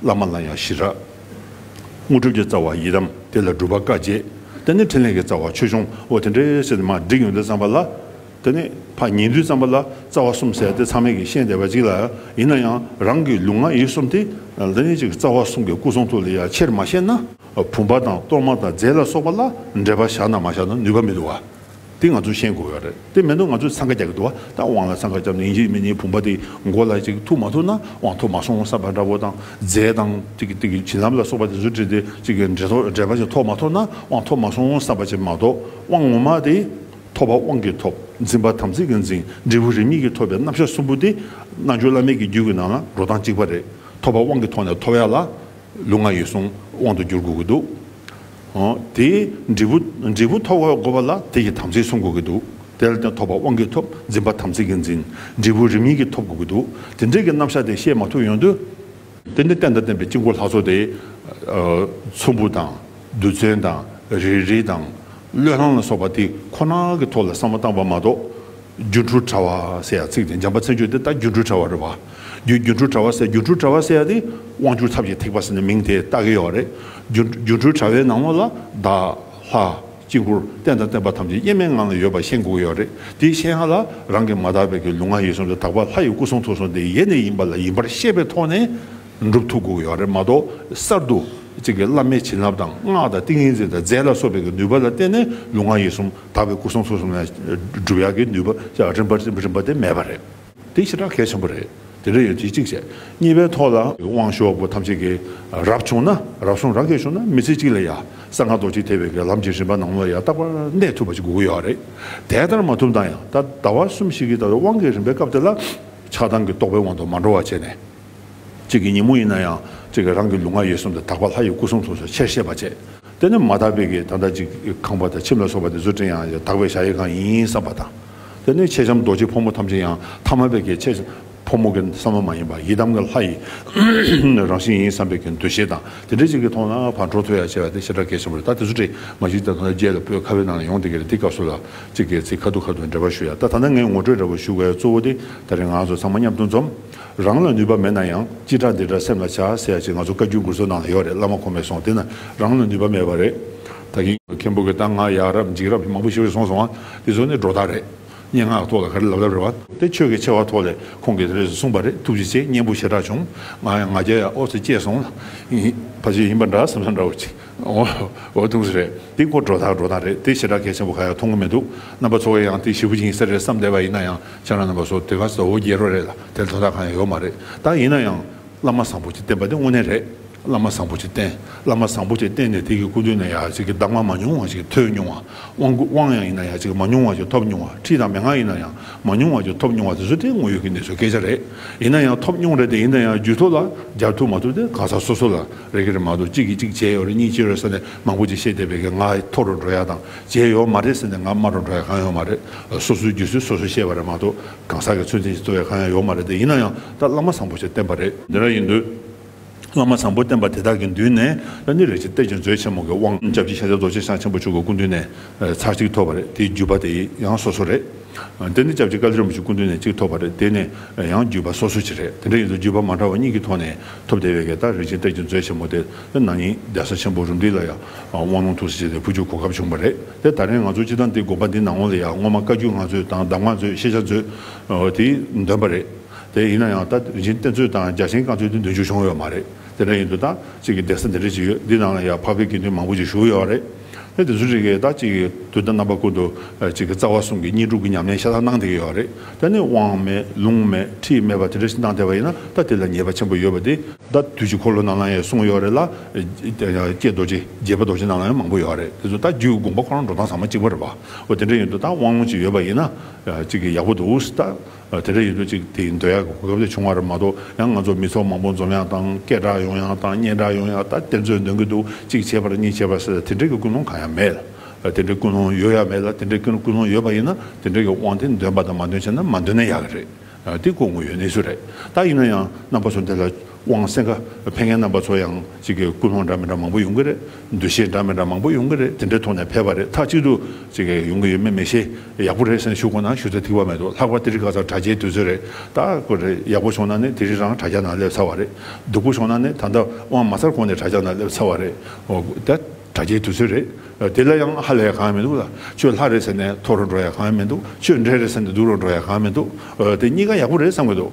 བླ་མ་ལ་ཡང་ཞི་རགས། དངོས་གྲུབ་ཀྱི་རྩ་བ་ཡི་དམ་དེ་ལ་སྒྲུབ་པ་བཀའ་བརྒྱད་དེ་ནི་ཕྲིན་ལས་ཀྱི་རྩ་བ་ཆོས་འབྱུང་ཨོ་དེ་འདྲའི་སེམས་མ་བསྒྲིགས་ཡོན་ཏན་བརྩམས་པ་ལ་དེ་ནི་ཕ་ཉིན་དུས་བརྩམས་པ་ལ་རྩ་བ་གསུམ་བསལ་ཏེ་ཚང་མས་ཀྱི་ཤེས་བདེ་བ་གཅིག་ལ་ཡིན་ན་ཡང་རང་གི་ལུས་ངག་ཡིད་གསུམ་དེ་ལ་ནི་གཅིག་རྩ་བ་གསུམ་གྱི་སྐུ་གསུང་ཐུགས་ལས་ཡང་ཆེར་མ་ཤེས་ན། བུམ་པ་དང་གཏོར་མ་དང་རྫས་ལ་སོགས་པ་ལ་འབྲེལ་པ་བཞག་ན་མ་བཞག་ན་ནུས་པ་མི་འདུག་བ། དེ་ང་ཚོས་ཤེས་དགོས་ཡོད་རེད་དེ་མེད་ན་ང་ཚོས་འཚང་ཁ་རྒྱག་གི་འདུག་བ་ད་དབང་ལ་འཚང་ཁ་རྒྱབ་ནས་ཡིན་གཅིག་མིན་གཅིག་བུམ་པ་དེ་མགོ་ལ་ཅིག་ཐུག་མ་ཐུག་ན་དབང་ཐོབ་མ་སོང་བསམ་པ་འདྲ་བོ་དང་རྫས་དང་བྱིན་རླབས་ལ་སོགས་པ་དེ་ཚོ་བྲིས་ཏེ་ཅིག་འགྲེལ་པ་ཞིག་ཐོབ་མ་ཐོབ་ན་དབང་ཐོབ་མ་སོང་བསམ་པ་ཅིག་མ་གཏོགས་དབང་ངོ་མ་དེ་ཐོབ་པ་དབང་གིས་ཐོབ་འཛིན་པ་དམ་ཚིག་གིས་འཛིན་འབྲས་བུ་རིས་མེད་ཀྱིས་ཐོབ་པའི་རྣམ་གཞག་གསུམ་པོ་དེ་རྣལ་འབྱོར་བླ་མེད་ཀྱི་རྒྱུད་ཀྱི་ནང་ལ་འགྲོ་སྟངས་གཅིག་པ་རེད་ཐོབ་པ་དབང་གིས་ཐོབ་ནས་ཐོབ་ཡ་ལ་ལུས་ངག་ཡིད་གསུམ་དབང་དུ་འགྱུར་དགོས་ཀྱི་འདུག་དེས་འབྲས་བུ་འབྲས་བུ་ཐོབ་བར་བསྒོ་བ་ལ་དེ་ཡི་དམ་ཚིག་བསྲུང་དགོས་ཀྱི་འདུག་དེ་ལ་དེ་ཐོབ་པར་དབང་གིས་ཐོབ་འཛིན་པ་དམ་ཚིག་གིས་འཛིན། འབྲས་བུ་རིམ་གཉིས་ཀྱིས་ཐོབ་དགོས་ཀྱི་འདུག་དེ་འབྲས་ཀྱི་རྣམ་གཞག་དེ་བཤད་མ་ཐུབ་ཡོང་དུས། དེ་ནི་བསྟན་དང་བསྟན་པའི་དཀྱིལ་འཁོར་ལྷ་ཚོགས་ཏེ། ཚོམ་བུ་དང། རྡུལ་ཚོན་དང། རས་རིས་དང། བློས་བསླངས་ལ་སོགས་པ་དེ་ཁོ་ན་གྱི་ཐོག་ལ་བསམ་བློ་བཏང་བ་མ་གཏོགས། སྒྱུ་འཕྲུལ་དྲ་བ་ཟེར་ཡག་ཚིག་དེ་འཇམ་པ་མཚན་བརྗོད་དེ་ད་སྒྱུ་འཕྲུལ་དྲ་བ་རེད་བ། རྒྱུ་སྒྱུ་འཕྲུལ་དྲ་བ་ཟེར་སྒྱུ་འཕྲུལ་དྲ་བ་ཟེར་ཡག་དེ་དབང་སྒྱུར་ཐབས་ཀྱི་ཐིགས་པ་ཟེར་ནས་མིང་དེ་བཏགས་ཀྱི་ཡོད་རེད། སྒྱུ་སྒྱུ་འཕྲུལ་དྲ་བའི་ནང་མོ་ལ་བདག། ལྷ། དཀྱིལ་འཁོར་རྟེན་དང་བརྟེན་པ་ཐམས་ཅད་དབྱེར་མེད་ངང་ལ་ཡོད་པ་ཤེས་འགུགས་ཡོད་རེད་དེ་ཤེས་ཡང་ལ་རང་གིས་མ་དག་པའི་གི་ལུང་ང་ཡིད་གསུམ་དུ་དག་པ་ལྷ་ཡི་སྐུ་གསུང་ཐུགས་གསུང་དེ་ཡེ་ནས་ཡིན་པ་ལ་ཡིན་པར་ཤེས་པའི་ཐོག་ནས་འགྲུབ་ཐུབ་འགུགས་ཡོད་རེད་མ་གཏོགས་གསར་དུ་གཅིག་གིས་བླ་མའི་བྱིན་རླབས་དང་སྔགས་དང་ཏིང་ངེ་འཛིན་དང་རྫས་ལ་སོགས་པའི་གི་ནུས་པ་ལ་བརྟེན་ནས་ལུང་ང་ཡིད་གསུམ། དག་པའི་སྐུ་གསུང་ཐུགས་གསུམ་ལས་སྒྲུབ་ཡག་གི་ནུས་པ་ཅག་རིམ་པ་རིམ་པ་རིམ་པ་དེ་མེད་པ་རེད། དེ་ཞེ་དྲག་གལ་ཆེན་པོ་རེད། དེ་འདྲ་ཡོད་དུས་གཅིག་བྱས། གཉིས་པའི་ཐོག་ལ། དབང་ཤོག་བུ་ཐམས་ཅད་ཀྱི་རབ་བྱུང་ན་རབ་གསུང་རབ་རྒྱས་བྱུང་ན་མི་ཚེ་གཅིག་ལ་ཡང་གསང་སྔགས་རྡོ་རྗེ་ཐེག་པའི་ལམ་གྱི་རིམ་པ་ནང་མོ་ལ་ཡང་རྟག་པར་གནས་ཐུབ་པ་ཅིག་དགོས་ཀྱི་ཡོད་རེད། དེ་ལྟར་མ་ཐུབ་ན་ཡང་ད་ལྟ་བར་གསུམ་ཞིག་གིས་ད་དུང་དབང་གི་རིམ་པའི་སྐབས་དེ་ལ་ཆགས་སྡང་གི་རྟོག་པའི་དབང་དུ་མ་འགྲོ་བ་བྱས་ནས། གཅིག་གི་ཉིན་མོ་ཡིན་ན་ཡང་གཅིག་གི་རང་གི་ལུས་ངག་ཡིད་གསུམ་དུ་དག་པ་ལྷ་ཡི་སྐུ་གསུང་ཐུགས་སོགས་ཆེར་ཤེས་པར་བྱས། དེ་ནི་མ་དག་པའི་གིས་ད་ལྟ་གཅིག་གིས་ཁང་པ་དང་ཁྱིམ་ལ་སོགས་པ་ནི་བཟོ་སྐྲུན་ཡང་ཡང་དག་པའི་བྱ་ཡི་གང་ཡིན་བསམ་པ་དང། དེ་ནི་མཆེད་ལྕམ་རྡོ་རྗེ་ཕོ་མོ་ཐམས་ཅད་ཡང་ཐ་མལ་པའི་གིས་མཆེད་ཕོ་མོ་གི་བསམ་བློ་མ་ཡིན་པར་ཡི་དམ་གྱི་ལྷ་ཡི་རང་བཞིན་ཡིན་བསམ་པའི་གིས་འདུ་ཤེས་དང་དེ་འདྲའི་གཅིག་གིས་མཐོང་ན་བར་འགྲོ་ཐོས་ཡ་བྱས་པ་དེ་ཤ་ཁྲག་གེ་ཆེན་པོ་རེད་ད་དེ་ཚོ་བྲིས་མ་གཅིག་ད་དུང་རྒྱལ་ལ་སྤོས་ཁ་བའི་ནང་ལ་ཡོང་སྟེ་གི་རེད་འདི་སྐབས་སུ་ལ་གཅིག་གིས་ཚིག་ཁ་ཐུག་ཁ་ཐུག་འབྲེལ་བ་ཞུ་ཡ་ད་ད་ནི་ངས་ངོ་སྤྲོད་འདྲ་བོ་ཞུ་དགོས་ཡ་གཙོ་བོ་དེ་ལྟ་རེད་ང་ཚོ་ཚང་མ་མཉམ་དུ་འཛོམས། རང་ལ་ནུས་པ་མེད་ན་ཡང་སྤྱིར་དྲ་འདི་འདྲ་སེམས་ལ་བྱ་ཟེར་ཡ་ཅིག་ང་ཚོ་བཀའ་རྒྱུད་འགུར་ཚོ་ནང་ལ་ཡོད་རེད་བླ་མ་ཁོང་མེད་སོང་དེ་ན་རང་ལ་ནུས་པ་མེད་པ་རེད་ད་གིན། མཁན་པོ་གི་གཏམ་ང་ཡག་རབས་འཇིགས་རབས་མང་པོ་ཤི་བས་སོང་སོང་ཨ་དེ་ཚོ་ནི་སྒྲོ་བཏགས་རེད་སྙན་ངག་ཐོག་ལ་ག་རེ་ལབ་ལབ་རེད་བ། དེ་ཆོས་ཀྱི་ཆེ་བ་ཐོག་ལས་ཁོང་གིས་དེ་རེས་གསུངས་པ་རེད་ཐུགས་རྗེ་ཆེ་སྙན་པོ་ཞེ་དྲག་བྱུང་ང་ཡང་ང་རྒྱལ་ཡ་ཨོ་ཚོ་སྐྱེས་སོང་ལ། ཕ་ཆོས་ཡིན་པ་འདྲ་སེམས་སོ་འདྲ་བོ་ཅིག། ཨོ། ཐུགས་རྗེ་རེད། འདི་སྐོར་སྒྲོ་ཐག་སྒྲོ་ཐག་རེད་དེ་ཞེ་དྲག་གལ་ཆེན་པོ་ག་ཡང་མཐོང་གི་མི་འདུག་རྣམ་པ་ཚོ་ཨེ་ཡང་དེ་ཞེ་བུ་ཅིང་ཟེར་རེད་བསམ་བསྡད་པ་ཡིན་ན་ཡང་ཁྱེད་རང་རྣམ་པ་ཚོ་དེ་ག་ཟ་འོ་རྒྱལ་རོ་རེད་ལ་དེར་དོ་ཐག་གང་ཡང་ཡོད་མ་རེད་ད་ཡིན་ན་ཡང་བླ་མ་བཟང་པོ་གྱིས་བསྟན་པ་དེ་དངོས་གནས་རེད་བླ་མ་བཟང་པོ་གྱིས་བསྟན་བླ་མ་བཟང་པོ་གྱིས་བསྟན་ནས་དེ་གི་སྐུ་མདུན་ནས་ཡག་ཅིག་གི་གདམས་ངག་མ་མྱོང་བ་ཞིག་ཐོས་མྱོང་བ་དབང་སྐུ་དབང་ཡང་ཡིན་ན་ཡག་ཅིག་གི་མ་མྱོང་བ་ཞིག་ཐོབ་མྱོང་བ་ཁྲིད་དང་མན་ངག་ཡིན་ན་ཡང་མ་མྱོང་བ་ཞིག་ཐོབ་མྱོང་བ་དེ་ཚོ་དེ་དངོས་ཡོད་ཀྱི་གནས་ཚུལ་སྐད་ཆ་རེད་ཡིན་ན་ཡང་ཐོབ་མྱོང་རེད་དེ་ཡིན་ན་ཡང་རྒྱུད་ཐོག་ལ་སྦྱར་ཐུབ་མ་ཐུབ་དེ་གང་ཟག་སོ་སོ་ལ་རེ་གི་རེ་མ་གཏོགས་གཅིག་གིས་གཅིག་བྱས་ཡོད་རེད་གཉིས་བྱས་ཡོད་རེད་ཟེར་ནས་མང་པོ་ཅིག་བཤད་བསྡད་པས་ཀྱང་ང་མཐོ་རུ་འགྲོ་ཡག་དང་བྱས་ཡོད་མ་རེད་ཟེར་ནས་ང་དམའ་རུ་འགྲོ་ཡག་གང་ཡོད་མ་རེད། སོ་སོའི་རྒྱུ་སྲོལ་སོ་སོས་ཤེས་པ་རེད་མ་གཏོགས་གང་ཟག་གི་ཚོད་འཛིན་ཞིག་གཏོད་ཡག་གང་ཡང་ཡོད་མ་རེད་དེ་ཡིན་ན་ཡང་ད་བླ་མ་བཟང་པོ་ཞིག་བསྟེན་པ་རེད། འདི་འདྲ་ཡིན་དུས། བླ་མ་བཟང་པོ་བསྟེན་པ་དེ་དག་གི་མདུན་ནས་ད་ནི་རེ་ཆེ་སྟེར་ཅིང་མཛོད་ཆེན་མོ་གི་དབང་སྐྱབས་ཀྱི་ཤཱཀྱ་རྡོ་རྗེ་འཆང་ཆེན་པོ་མཆོག་གི་སྐུ་མདུན་ནས་ཚར་གཅིག་ཐོབ་པ་རེད་དེའི་བརྒྱུད་པ་དེ་ཡང་སོ་སོ་རེད། འདི་ནི་སྐྱབས་རྗེ་བཀའ་བརྒྱུད་རིན་པོ་ཆེ་སྐུ་མདུན་ནས་གཅིག་ཐོབ་པ་རེད་དེ་ནི་ཡང་བརྒྱུད་པ་སོ་སོའི་ཆེད་རེད་དེ་འདྲ་ཡིན་ཚེ་བརྒྱུད་པ་མ་འདྲ་བ་གཉིས་ཀྱི་ཐོག་ནས་ཐོབ་བདེ་བས་གད་སྟག་རིན་ཆེན་གཏེར་གྱི་མཛོད་ཆེན་མོ་དེ་ནང་ཉིད་གདན་ས་ཆེན་པོ་རུ་འདི་ལ་ཡང་དབང་ལུང་ཐུགས་སུ་བཅད་དེ་ཕུལ་རྒྱུའི་གོ་སྐབས་བྱུང་བ་རེད་དེ་ད་རེས་ང་ཚོ་སྤྱི་བཏང་འདི་དགོངས་པ་འདི་ནང་ལོགས་ལ་ཡང་སྔོན་མ་བཀའ་བརྒྱུད་ལྔ་མཛོད་དང་གདམས་ངག་མཛོད་ཤེས་བྱ་མཛོད་དེ་འདོན་པ་རེད་དེ་ཡིན་ན་ཡང་ད་རིན་ཆེན་གཏེར་མཛོད་དང་རྒྱ་ཆེན་བཀའ་མཛོད་དེ་འདོན་རྒྱུ་བྱུང་ཡོད་མ་རེད་དེ་འདྲ་ཡིན་དུ་ད་གཅིག་གི་གདན་ས་འདི་འདྲ་ཞིག་ཡོད་འདི་ནང་ལ་ཡང་ཕག་པའི་དགེ་འདུན་མང་པོ་ཞིག་བཞུགས་ཡོད་རེད། ནས་དེ་ཚོའི་རིགས་ཀྱི་ད་ཅིག་དུས་ད་རྣམ་པ་བཀོད་དུ་ཅིག་རྩ་བ་གསུམ་གྱི་གཉིས་སྒྲུབ་ཀྱི་ཉམས་ལེན་ཤ་སྟག་གནང་བསྡད་ཀྱི་ཡོད་རེད་དེ་ནི་དབང་མེད་ལུང་མེད་ཁྲིད་མེད་པ་དེ་འདྲ་ཞིག་གནང་བསྡད་པ་ཡིན་ན་ད་དེ་ལ་ཉེས་པ་ཆེན་པོ་ཡོད་པ་དེ་ད་དུས་ཀྱི་འཁོར་ལོ་རྣམས་ལའང་ཡང་གསུངས་ཡོད་རེད་ལ ྋསྐྱེས་རྡོ་རྗེ་རྒྱལ་པོ་རྡོ་རྗེ་རྣམས་ལའང་ཡང་མང་པོ་ཡོད་རེད་དེ་ཚོ་ད་རྒྱུད་ཀྱི་དགོངས་པ་ཁོ་རང་འགྲོ་སྟངས་ཟ་མ་གཅིག་པོ་རེད་པ་འོ་དེ་འདྲ་ཡིན་དུས་ད་དབང་ལུང་ཅིག་ཡོད་པ་ཡིན་ན་ཅིག་ཡག་པོ་འདུག་ད། དེ་འདྲ་ཡིན་དུས་གཅིག་དེའི་འདོད་ཡག་གི་གོ་སྐབས་དེ་བྱུང་བ་རེད་མ་གཏོགས་ཡང་ང་ཚོ་མི་ཚོགས་མང་པོ་འཛོམས་ཡག་དང་སྐད་གྲགས་ཡོང་ཡག་དང་སྙན་གྲགས་ཡོང་ཡག་ད་དེ་ཚོས་འདོན་གྱི་འདུག་གཅིག་བྱས་པར་གཉིས་བྱས་པར་ཟེར་དེ་འདྲས་ཀྱི་ཀུན་སློང་གང་ཡང་མེད། དེ་འདྲའི་ཀུན་སློང་ཡོད་ཡ་མེད་ལ་དེ་འདྲའི་ཀུན་སློང་ཡོད་པ་ཡིན་ན་དེ་འདྲས་ཀྱི་དབང་དེ་འདོན་པ་དང་མ་འདོན་བྱས་ན་མ་འདོན་ན་ཡག་གི་རེད། འདི་ཀོ་ངོ་ཡོད་གནས་ཚུལ་རེད། ད་ཡིན་ན་ཡང་རྣམ་པ་ཚོ་འདི་ལ། དབང་སེང་ཁ་བྷེ་ངན་རྣམ་པ་ཚོ་ཡང་གཅིག་གི་ཀུན་སློང་འདྲ་མི་འདྲ་མང་པོ་ཡོང་གི་རེད་འདུ་ཤེས་འདྲ་མི་འདྲ་མང་པོ་ཡོང་གི་རེད་དེ་འདྲའི་ཐོག་ནས་ཕེབས་པ་རེད་ཐག་གཅིག་ཏུ་གཅིག་ཡོང་གི་ཡོད་མེད་མི་ཤེས་ཡག་པོ་རེད་སེམས་ཤུགས་ཁོ་ན་ཞུ་ཚེ་ཐིག་པ་མེད་འདུག་ལྷག་པར་ཏི་རི་ཁ་ཚར་དྲ་རྒྱའི་དུས་ཚོད་རེད་ད་ཁོ་རེ་ཡག་པོ་བྱུང་ན་ནི་དེ་རིང་རང་དྲ་རྒྱ་ནང་སླེབས་ཚར་བ་རེད་སྡུག་པོ་བྱུང་ན་ནི་ད་ལྟ་དབང་མ་ཚར་གོང་ནས་དྲ་རྒྱ་ནང་སླེབས་ཚར་བ་རེད་ད་དྲ་རྒྱའི་དུས་ཚོད་རེད་དེ་ལ་ཡང་ཧ་ལས་གང་ཡང་མི་འདུག་ལ་ཁྱོད་ལྷ་རེད་ཟེར་ནས་ཐོག་རུ་འགྲོ་ཡ་གང་ཡང་མི་འདུག་ཁྱོད་འདྲེ་རེད་ཟེར་ནས་སྡུག་རུ་འགྲོ་ཡ་གང་ཡང་མི་འདུག་དེ་གཉིས་ཀ་ཡག་པོ་རེད་བསམ་གི་འདུག།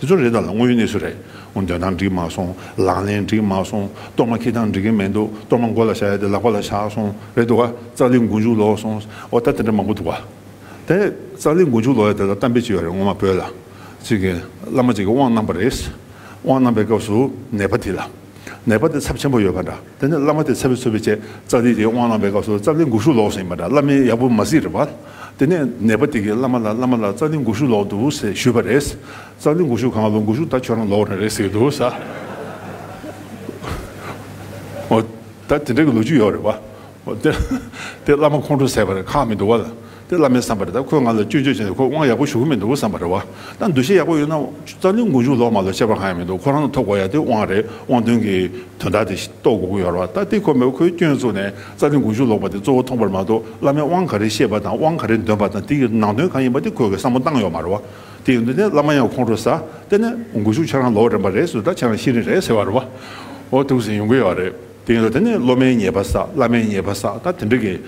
དེ་ཚོ་རེད་ད་ལ་དངོས་ཡོད་གནས་ཚུལ་རེད། འོ་འདོན་ཐང་འགྲིག་མ་སོང། ལག་ལེན་འགྲིག་མ་སོང། གཏོར་མ་འཁྱིལ་ཐང་འགྲིག་གིན་མེད་འདུག་གཏོར་མ་མགོ་ལ་བཞག་ཡ་དེ་ལག་པ་ལ་བཞག་སོང་རེད་འདུག་ག་ཙག་ལི་མགོ་མཇུག་ལོག་སོང། འོ་ད་དེ་འདྲ་མང་པོ་འདུག་ག། དེ་ཙག་ལི་མགོ་མཇུག་ལོག་ཡ་དེ་ལ་གཏམ་དཔེ་ཅིག་ཡོད་རེད་སྔོན་མ་བོད་ལ། ཅིག་གིན་བླ་མ་ཅིག་གིས་དབང་གནང་པ་རེད། དབང་གནང་པའི་སྐབས་སུ་ནད་པ་དེ་ལ། ནད་པ་དེ་ཚབས་ཆེན་པོ་ཡོད་པ་འདྲ། དེ་ནས་བླ་མ་དེ་ཚལ་བུ་ཚོལ་བའི་ཆེད་རྩ་ལྡིང་དེའི་དབང་བླངས་པའི་སྐབས་སུ་རྩ་ལྡིང་འགུགས་གཞུག་ལོག་ཟིན་པ་འདྲ་བླ་མས་ཡག་པོ་མ་གཟིགས་རེད་པ། དེ་ནས་ནད་པ་དེ་གིས་བླ་མ་ལ་བླ་མ་ལགས་རྩ་ལྡིང་འགུགས་གཞུག་ལོག་འདུག་ཟེར་ཞུས་པ་རེད། རྩ་ལྡིང་འགུགས་གཞུག་གང་ལོག་འགུགས་གཞུག་ད་ཁྱོད་རང་ལོག་རེད་རེད་ཟེར་གྱི་འདུག་ཟ། འོ་ད་དེ་འདྲ་གི་ལོ་རྒྱུས་ཡོད་རེད་པ། དེ་བླ་མ་ཁོང་ཁྲོ་ཟས་པ་རེད་ཁག་མི་འདུག་བ། དེ་བླ་མའི་བསམ་པ་རེད་ད་ཁོས་ང་ལ་སྐྱོན་བརྗོད་བྱས་ནས་ཁོ་དབང་ཡག་པོ་ཞུ་གི་མི་འདུག་བསམ་པ་རེད་བ་ད་འདུ་ཤེས་ཡག་པོ་ཡོད་ན་རྩ་འདུལ་མགོ་འཇུག་ལོག་མ་ལོག་ཁྱད་པར་གང་ཡང་མི་འདུག་ཁོ་རང་ལ་ཐོབ་གོ་ཡ་དེ་དབང་རེད་དབང་དོན་གྱི་དོན་དག་དེ་རྟོགས་དགོས་ཀྱི་ཡོད་རེད་བ་ད་དེ་ཁོ་མེད་པར་ཁོའི་སྐྱོན་བཙུགས་ནས་རྩ་འདུལ་མགོ་འཇུག་ལོག་པ་དེ་གཙོ་བོ་མཐོང་པར་མ་གཏོགས་བླ་མས་དབང་ག་རེ་བཤད་པ་དང་དབང་ག་རེ་འདོན་པ་དང་དེ་གི་ནང་དོན་གང་ཡིན་པ་དེ་ཁོས་གི་བསམ་བློ་བཏང་ཡོད་མ་རེད་བ་དེ་ཡིན་དུས་ནས་བླ་མ་ཡང་ཁོང་ཁྲོ་ཟ་དེ་ནས་མགོ་འཇུག་ཁྱེད་རང་ལོག་རན་པ་རེད་ཟོས་ད་ཁྱེད་རང་ཤེས་རིན་རེད་ཟེར་བ་རེད་བ་འོ་ཐུགས་ཟིན་ཡོང་གི་ཡོད་རེད། དེ་ཡིན་ན་དེ་ནི་སློབ་མའི་ཉེས་པ་བསགས་བླ་མའི་ཉེས་པ་བསགས་ད་དེ་འདྲ་གི་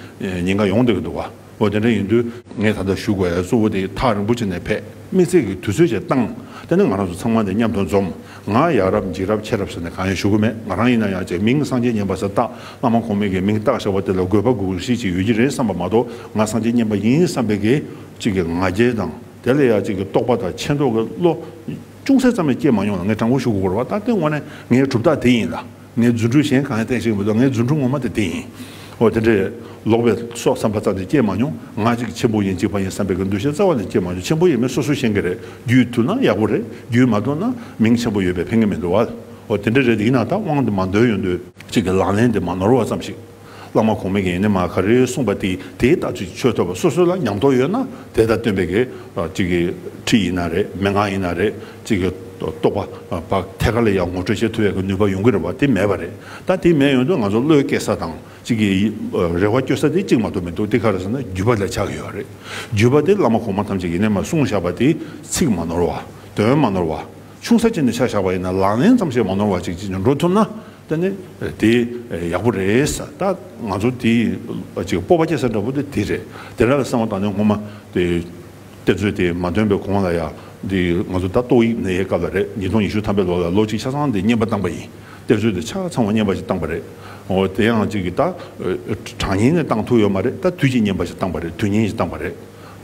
ཉེན་ཁ་ཡོང་སྡོད་ཀྱི་འདུག་ཨོ་དེ་འདྲ་ཡིན་དུས། ངས་ད་ལྟ་བཞུགས་པའི་གཙོ་བོ་དེ་ཐག་རིང་པོ་ཅིག་ནས་ཕེབས་དམིགས་བརྩེ་གི་དུས་ཚོད་ཅིག་བཏང་དེ་ནི་ང་རང་ཚོ་ཚང་མ་དེ་མཉམ་དུ་འཛོམས་ང་ཡག་རབས་འཇིགས་རབས་ཆེ་རབས་ཟེར་ནས་གང་ཡང་ཞུ་གི་མེད་ང་རང་ཡིན་ན་ཡང་ཅེས་མིང་སངས་རྒྱས་བསྙེན་པ་ཟེར་སྟབས་བླ་མ་གོང་མས་ཀྱི་མིང་བཏགས་བཞག་པ་དེ་ལ་དགོས་པ་དགོས་གཞི་ཅིག་ཡོད་ཀྱི་རེད་བསམ་པ་མ་གཏོགས་ང་སངས་རྒྱས་བསྙེན་པ་ཡིན་བསམ་པའི་གི་ཅིག་གི་ང་རྒྱལ་དང་དེ་ལ་ཡང་ཅིག་གི་རྟོག་པ་དང་ཆེ་མདོག་གི་བློ་ཅུང་ཟད་ཙམ་ཡང་སྐྱེས་མ་མྱོང་ལ་ངས་དྲང་པོ་ཞུ་གི་གོ་རེ་བ་ད་དེ་དངོས་གནས་ངའི་གྲུབ་རྟགས་དེ་ཡིན་ལ། ངའི་རྫུ་འཕྲུལ་གཞན་གང་ཡང་བསྟན་ཞིག་མི་འདུག་ངའི་རྫུ་འཕྲུལ་ངོ་མ་དེ་འདི་ཡིན། འོ་དེ་འདྲའི། ལོག་པའི་སོགས་བསམ་པ་ཙམ་གྱིས་སྐྱེས་མ་མྱོང། ང་གཅིག་གི་ཆེན་པོ་ཡིན་གཅིག་པ་ཡིན་བསམ་པའི་གི་འདུ་ཤེས་རྩ་བ་ནས་སྐྱེས་མ་མྱོང་ཆེན་པོ་ཡིན་མིན་སོ་སོ་ཤེས་གི་རེད་རྒྱུས་ཐུབ་ན་ཡག་པོ་རེད་རྒྱུས་མ་ཐུབ་ན་མིང་ཆེན་པོ་ཡོད་པའི་ཕན་གི་མི་འདུག་བ། འོ་དེ་འདྲ་རེད་ཡིན་ན་ད་དབང་དུ་མ་འདོད་ཡོད་འདོད། གཅིག་གི་ལག་ལེན་དེ་མ་ནོར་བ་ཙམ་ཞིག། བླ་མ་གོང་མས་ཡེ་ནས་མ་ག་རེ་གསུངས་པ་དེ་དེའི་ལྟ་ཚུལ་ཆོས་ཐོས་པ་སོ་སོ་ལ་ཉམས་རྟོགས་ཡོད་ན་དེ་ལྟར་སྟོན་པས་གི་ཁྲིད་ཡིན་ན་རེད་མན་ངག་ཡིན་ན་རེད་ཅེས་གི་རྟོགས་པ་བ་ཐད་ཀར་ལ་ཡང་ངོ་སྤྲོད་བྱེད་ཐུབ་པའི་གི་ནུས་པ་ཡོང་གི་རེད་བ་དེ་མེད་པ་རེད་ད་དེ་མེད་ཡོང་དུས་ང་ཚོ་བློའི་སྐྱེ་ས་དང་ཅིག་གི་རེ་བ་བསྐྱོད་ས་དེ་གཅིག་མ་གཏོགས་མི་འདུག་དེ་ག་རེ་ཟེར་ན་བརྒྱུད་པ་ལས་ཆགས་ཀྱི་ཡོད་རེད་བརྒྱུད་པ་དེ་བླ་མ་གོང་མ་ཐམས་ཅད་ཡེ་ནས་མ་གསུངས་བཞག་པ་དེ་ཚིག་མ་ནོར་བ་དོན་མ་ནོར་བ་ཆུང་ས་ཅན་དུ་ཆགས་བཞག་པ་ཡིན་ན་ལག་ལེན་ཙམ་ཞིག་མ་ནོར་བ་ཅིག་ཅིག་འགྲོ་ཐུབ་ན། ད་ནི་དེ་ཡག་པོ་རེད་ད་ང་ཚོ་དེ་གཅིག་སྤོབས་པ་སྐྱེ་ས་འདྲ་བོ་དེ་དེ་རེད་དེ་འདྲ་ལ་བསམ་བ་དང་ནི་ངོ་མ་དེ་གཏེར་མཛོད་དེ་མ་ཐོན་པའི་གོང་ལ་ཡང་དེ་ང་ཚོ་ད་ཏོག་ཡིག་ནའི་སྐབས་ལ་རེད་ཉིས་སྟོང་ཉི་ཤུ་ཐམ་པའི་ལོ་ལ་ལོ་གཅིག་ཆ་ཚང་དེ་བསྙེན་པ་བཏང་པ་ཡིན་གཏེར་མཛོད་དེ་ཆ་ཚང་བ་བསྙེན་པ་ཞིག་བཏང་པ་རེད་འོ་དེ་ཡང་གཅིག་གིས་ད་གྲངས་ཉིན་ནས་བཏང་ཐུབ་ཡོད་མ་རེད་ད་དུས་ཀྱི་བསྙེན་པ་ཞིག་བཏང་པ་རེད་དུས་ཉིན་ཞིག་བཏང་པ་རེད།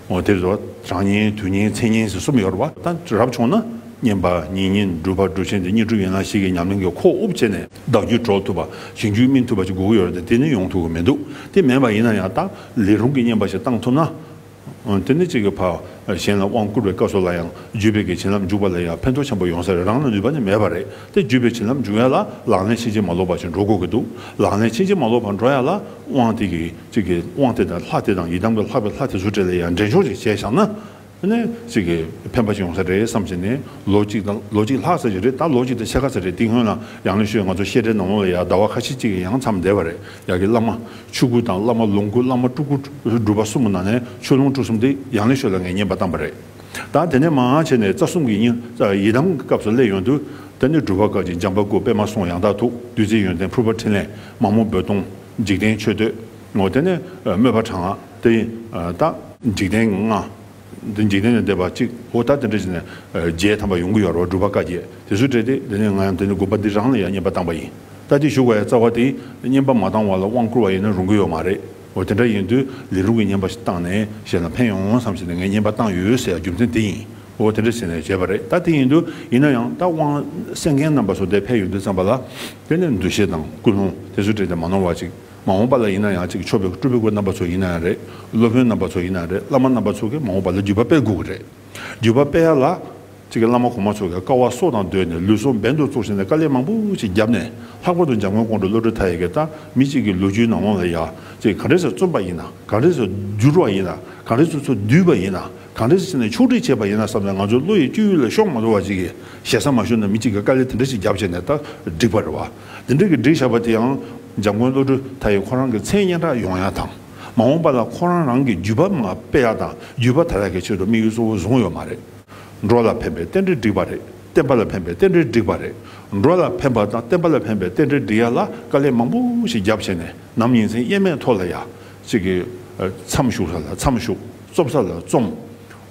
ངོ་དེབ་སོགས་གྲངས་བསྙེན་དུས་བསྙེན་ཚེས་བསྙེན་ཞེས་གསུམ་ཡོད་རེད་བ། ད་རབ་བྱུང་ན་བསྙེན་པ་ཉིས་བསྙེན་སྒྲུབ་པ་སྒྲུབ་ཆེན་དེ་གཉིས་གྲུབ་ཡིན་ན་ཞིག་གི་ཉམས་ལེན་གྱི་ཁོག་དབུབ་བྱས་ནས་བདག་རྒྱུད་གྲོལ་ཐུབ་པ་ཞིང་རྒྱུད་སྨིན་ཐུབ་པ་ཞིག་དགོས་ཀྱི་ཡོད་རེད་དེ་ནི་ཡོང་ཐུབ་ཀྱི་མི་འདུག་དེ་མེད་པ་ཡིན་ན་ཡང་དག་ལས་རུང་གི་བསྙེན་པ་ཞིག་བཏང་ཐུབ་ན། དེ་ནི་གཅིག་གི་བར་གཞན་ལ་དབང་བསྐུར་བའི་སྐབས་སོགས་ལ་ཡང་རྒྱུད་སྤེལ་གྱི་བྱིན་རླབས་འཇུག་པ་ལ་ཡང་ཕན་ཐོགས་ཆེན་པོ་ཡོང་ས་རེད་རང་ལ་ནུས་པ་ནི་མེད་པ་རེད་དེ་རྒྱུད་སྤེལ་བྱིན་རླབས་འཇུག་ཡ་ལ་ལག་ལེན་ཕྱིན་ཅི་མ་ལོག་པ་ཞིག་འགྲོ་དགོས་ཀྱི་འདུག་ལག་ལེན་ཕྱིན་ཅི་མ་ལོག་པར་འགྲོ་ཡ་ལ་དབང་དེ་གི། གཅིག་གིས་དབང་དེ་དང་ལྷ་དེ་དང་ཡི་དམ་གྱི་ལྷག་པའི་ལྷ་དེ་ཟུར་བྲལ་ལ་ཡང་འདྲེན་ཆུང་ཞིག་བྱས་བཞག་ན། གཅིག་གིས་ཕན་པ་ཞིག་ཡོང་ས་རེད་བསམ་བཞིན་ནས་ལོ་གཅིག་དང་ལོ་གཅིག་ལྷག་ས་ཞིག་རེད་ད་ལོ་གཅིག་དང་ཕྱེད་ཀ་ས་རེད་འདི་སྔོན་ལ་ཡང་ལེ་ཤོད་ང་ཚོ་བཤད་གྲྭའི་ནང་ལོག་ལ་ཡང་ཟླ་བ་ཁ་ཤས་གཅིག་ཡང་མཚམས་འདས་པ་རེད་ཡག་གི་བླ་མ་ཆོས་སྐུ་དང་བླ་མ་ལོངས་སྐུ་བླ་མ་སྤྲུལ་སྐུ་སྒྲུབ་པ་གསུམ་གྱི་ནང་ནས་ཆོས་ལོངས་སྤྲུལ་གསུམ་དེ་ཡང་ལེ་ཤོད་ལ་ངས་བསྙེན་པ་བཏང་པ་རེད་ད་དེ་ནས་མང་བྱས་ནས་རྩ་གསུམ་གྱི་ཡི་དམ་གྱི་སྐབས་སུ་སླེབས་ཡོང་དུས་ད་ནི་སྒྲུབ་པ་སྐབས་ཀྱི་འཇམ་པ་སྐུ་པད་མ་སོང་ཡང་དག་ཐུགས་རྡུལ་རྩེ་ཡོན་ཏན་ཕུར་པ་འཕྲིན་ལས་མ་མོ་རྦོད་གཏོང། འཇིག་རྟེན་ཆོས་སྟོན་ངོ། དེ་ནས་སྨོད་པ་དྲང་བདེན་ཡིན་ལྟ། འཇིག་རྟེན་ལྔ། འདི་འཇིག་རྟེན་ལས་འདས་པ་གཅིག་གོ། ད་དེ་འདྲ་བྱས་ནས་རྗེས་དམ་པ་ཡོངས་ཀྱི་ཡོ་རོ་བསྒྲུབ་པ་བཀའ་རྒྱས་དེ་ཚོས་བྲེལ་ཏེ་དེ་ནས་ང་ཡང་དེ་ནས་དགོངས་པ་འདི་རང་ལ་ཡང་བསྙེན་པ་བཏང་བ་ཡིན་ལྟ་དེ་བཞུགས་པ་ཡང་རྩ་བ་དེས་བསྙེན་པ་མ་བཏང་བ་ལ་དབང་བསྐུར་བ་ཡིན་ན་རུང་གི་ཡོད་མ་རེད་འོ་དེ་འདྲ་ཡིན་དུས་ལས་རུང་གི་བསྙེན་པ་ཞིག་བཏང་ནས་བཞེས་ན་ཕན་ཡོང་ངོ་བསམ་བཞིན་ངས་བསྙེན་པ་བཏང་ཡོད་ཟེར་ཡ་རྒྱུ་མཚན་དེ་ཡིན། འོ་དེ་འདྲ་ཟེར་ནས་བྱས་པ་རེད་ད་དེ་ཡིན་དུས་ཡིན་ན་ཡང་ད་དབང་སེང་རྒན་རྣམ་པ་ཚོ་དེ་ཕེབས་ཡོང་དུས་བརྩམས་པ་ལ་དེ་ནས་འདུ་ཤེས་དང་ཀུན་སློང་དེ་ཚོ་བྲིས་ཏེ་མ་གནང་བ་ཅིག་མ་འོངས་པ་ལ་ཡིན་ན་ཡང་ཅིག་ཆོག་པའི་སྤྲུལ་སྐུ་རྣམ་པ་ཚོ་ཡིན་ན་ཡང་རེད་སློབ་དཔོན་རྣམ་པ་ཚོ་ཡིན་ན་རེད་བླ་མ་རྣམ་པ་ཚོ་གིས་མ་འོངས་པ་ལ་བརྒྱུད་པ་སྤེལ་དགོས་ཀྱི་རེད་བརྒྱུད་པ་སྤེལ་ཡ་ལ། ཅིག་བླ་མ་གོང་མ་ཚོ་གིས་དཀའ་བ་སྲོག་དང་བསྡོས་ནས་ལུས་སྲོག་འབེན་དུ་བཙུགས་བྱས་ནས་དཀའ་ལས་མང་པོ་ཅིག་བརྒྱབ་ནས་ལྷག་པར་དུ་འཇམ་མགོན་ཀོང་སྤྲུལ་བློ་གྲོས་མཐའ་ཡས་ཀྱིས་ད་མི་གཅིག་གི་ལོ་རྒྱུས་ནང་ལོང་ལ་ཡ་ཅིག་གང་རེ་ཟེར་རྩོམ་པ་ཡིན་ན་གང་རེ་ཟེར་བསྒྱུར་བ་ཡིན་ན་གང་རེ་ཚུར་ཚུར་བསྡུས་པ་ཡིན་ན། གང་འདྲ་ཞིག་བྱས་ནས་ཕྱོགས་སྒྲིག་བྱས་པ་ཡིན་ན་བསམ་ནས་ང་ཚོའི་བློ་ཡི་སྤྱོད་ཡུལ་ལ་ཤོག་མ་འགྲོ་བ་ཅིག་གིས་ཞེ་ས་མ་ཞུ་ན་མི་གཅིག་གིས་དཀའ་ལས་དེ་འདྲ་ཞིག་རྒྱབ་བྱས་ནས་ད་བསྒྲིགས་པ་རེད་བ། འདི་འདྲ་གི་བསྒྲིགས་བཞག་པ་དེའང་འཇམ་མགོན་བློ་གྲོས་དྷ་ཡིས་ཁོ་རང་གི་མཚན་སྙན་གྲགས་ཡོང་ཡག་དང། མ་འོངས་པ་ལ་ཁོ་རང་རང་གི་བརྒྱུད་པ་མང་སྤེལ་ཡག་དང་བརྒྱུད་པ་དར་ཡག་གི་ཆེད་དུ་དམིགས་ཡུལ་གཙོ་བོ་བཟུང་ཡོད་མ་རེད། འགྲོ་ལ་ཕན་པའི་རྟེན་འབྲེལ་བསྒྲིགས་པ་རེད་བསྟན་པ་ལ་ཕན་པའི་རྟེན་འབྲེལ་བསྒྲིགས་པ་རེད། འགྲོ་ལ་ཕན་པ་དང་བསྟན་པ་ལ་ཕན་པའི་རྟེན་འབྲེལ་བསྒྲིགས་ཡག་ལ་དཀའ་ལས་མང་པོ་ཞིག་རྒྱབ་བྱས་ནས་ནམ་ཡིན་མཚན་སྙན་མེད་ཐོག་ལ་ཡག་ཅིག་གིས་མཚམས་ཞུགས་ས་ལ་མཚམས་ཞུགས། བཙོ་ས་ལ་བཙོམ།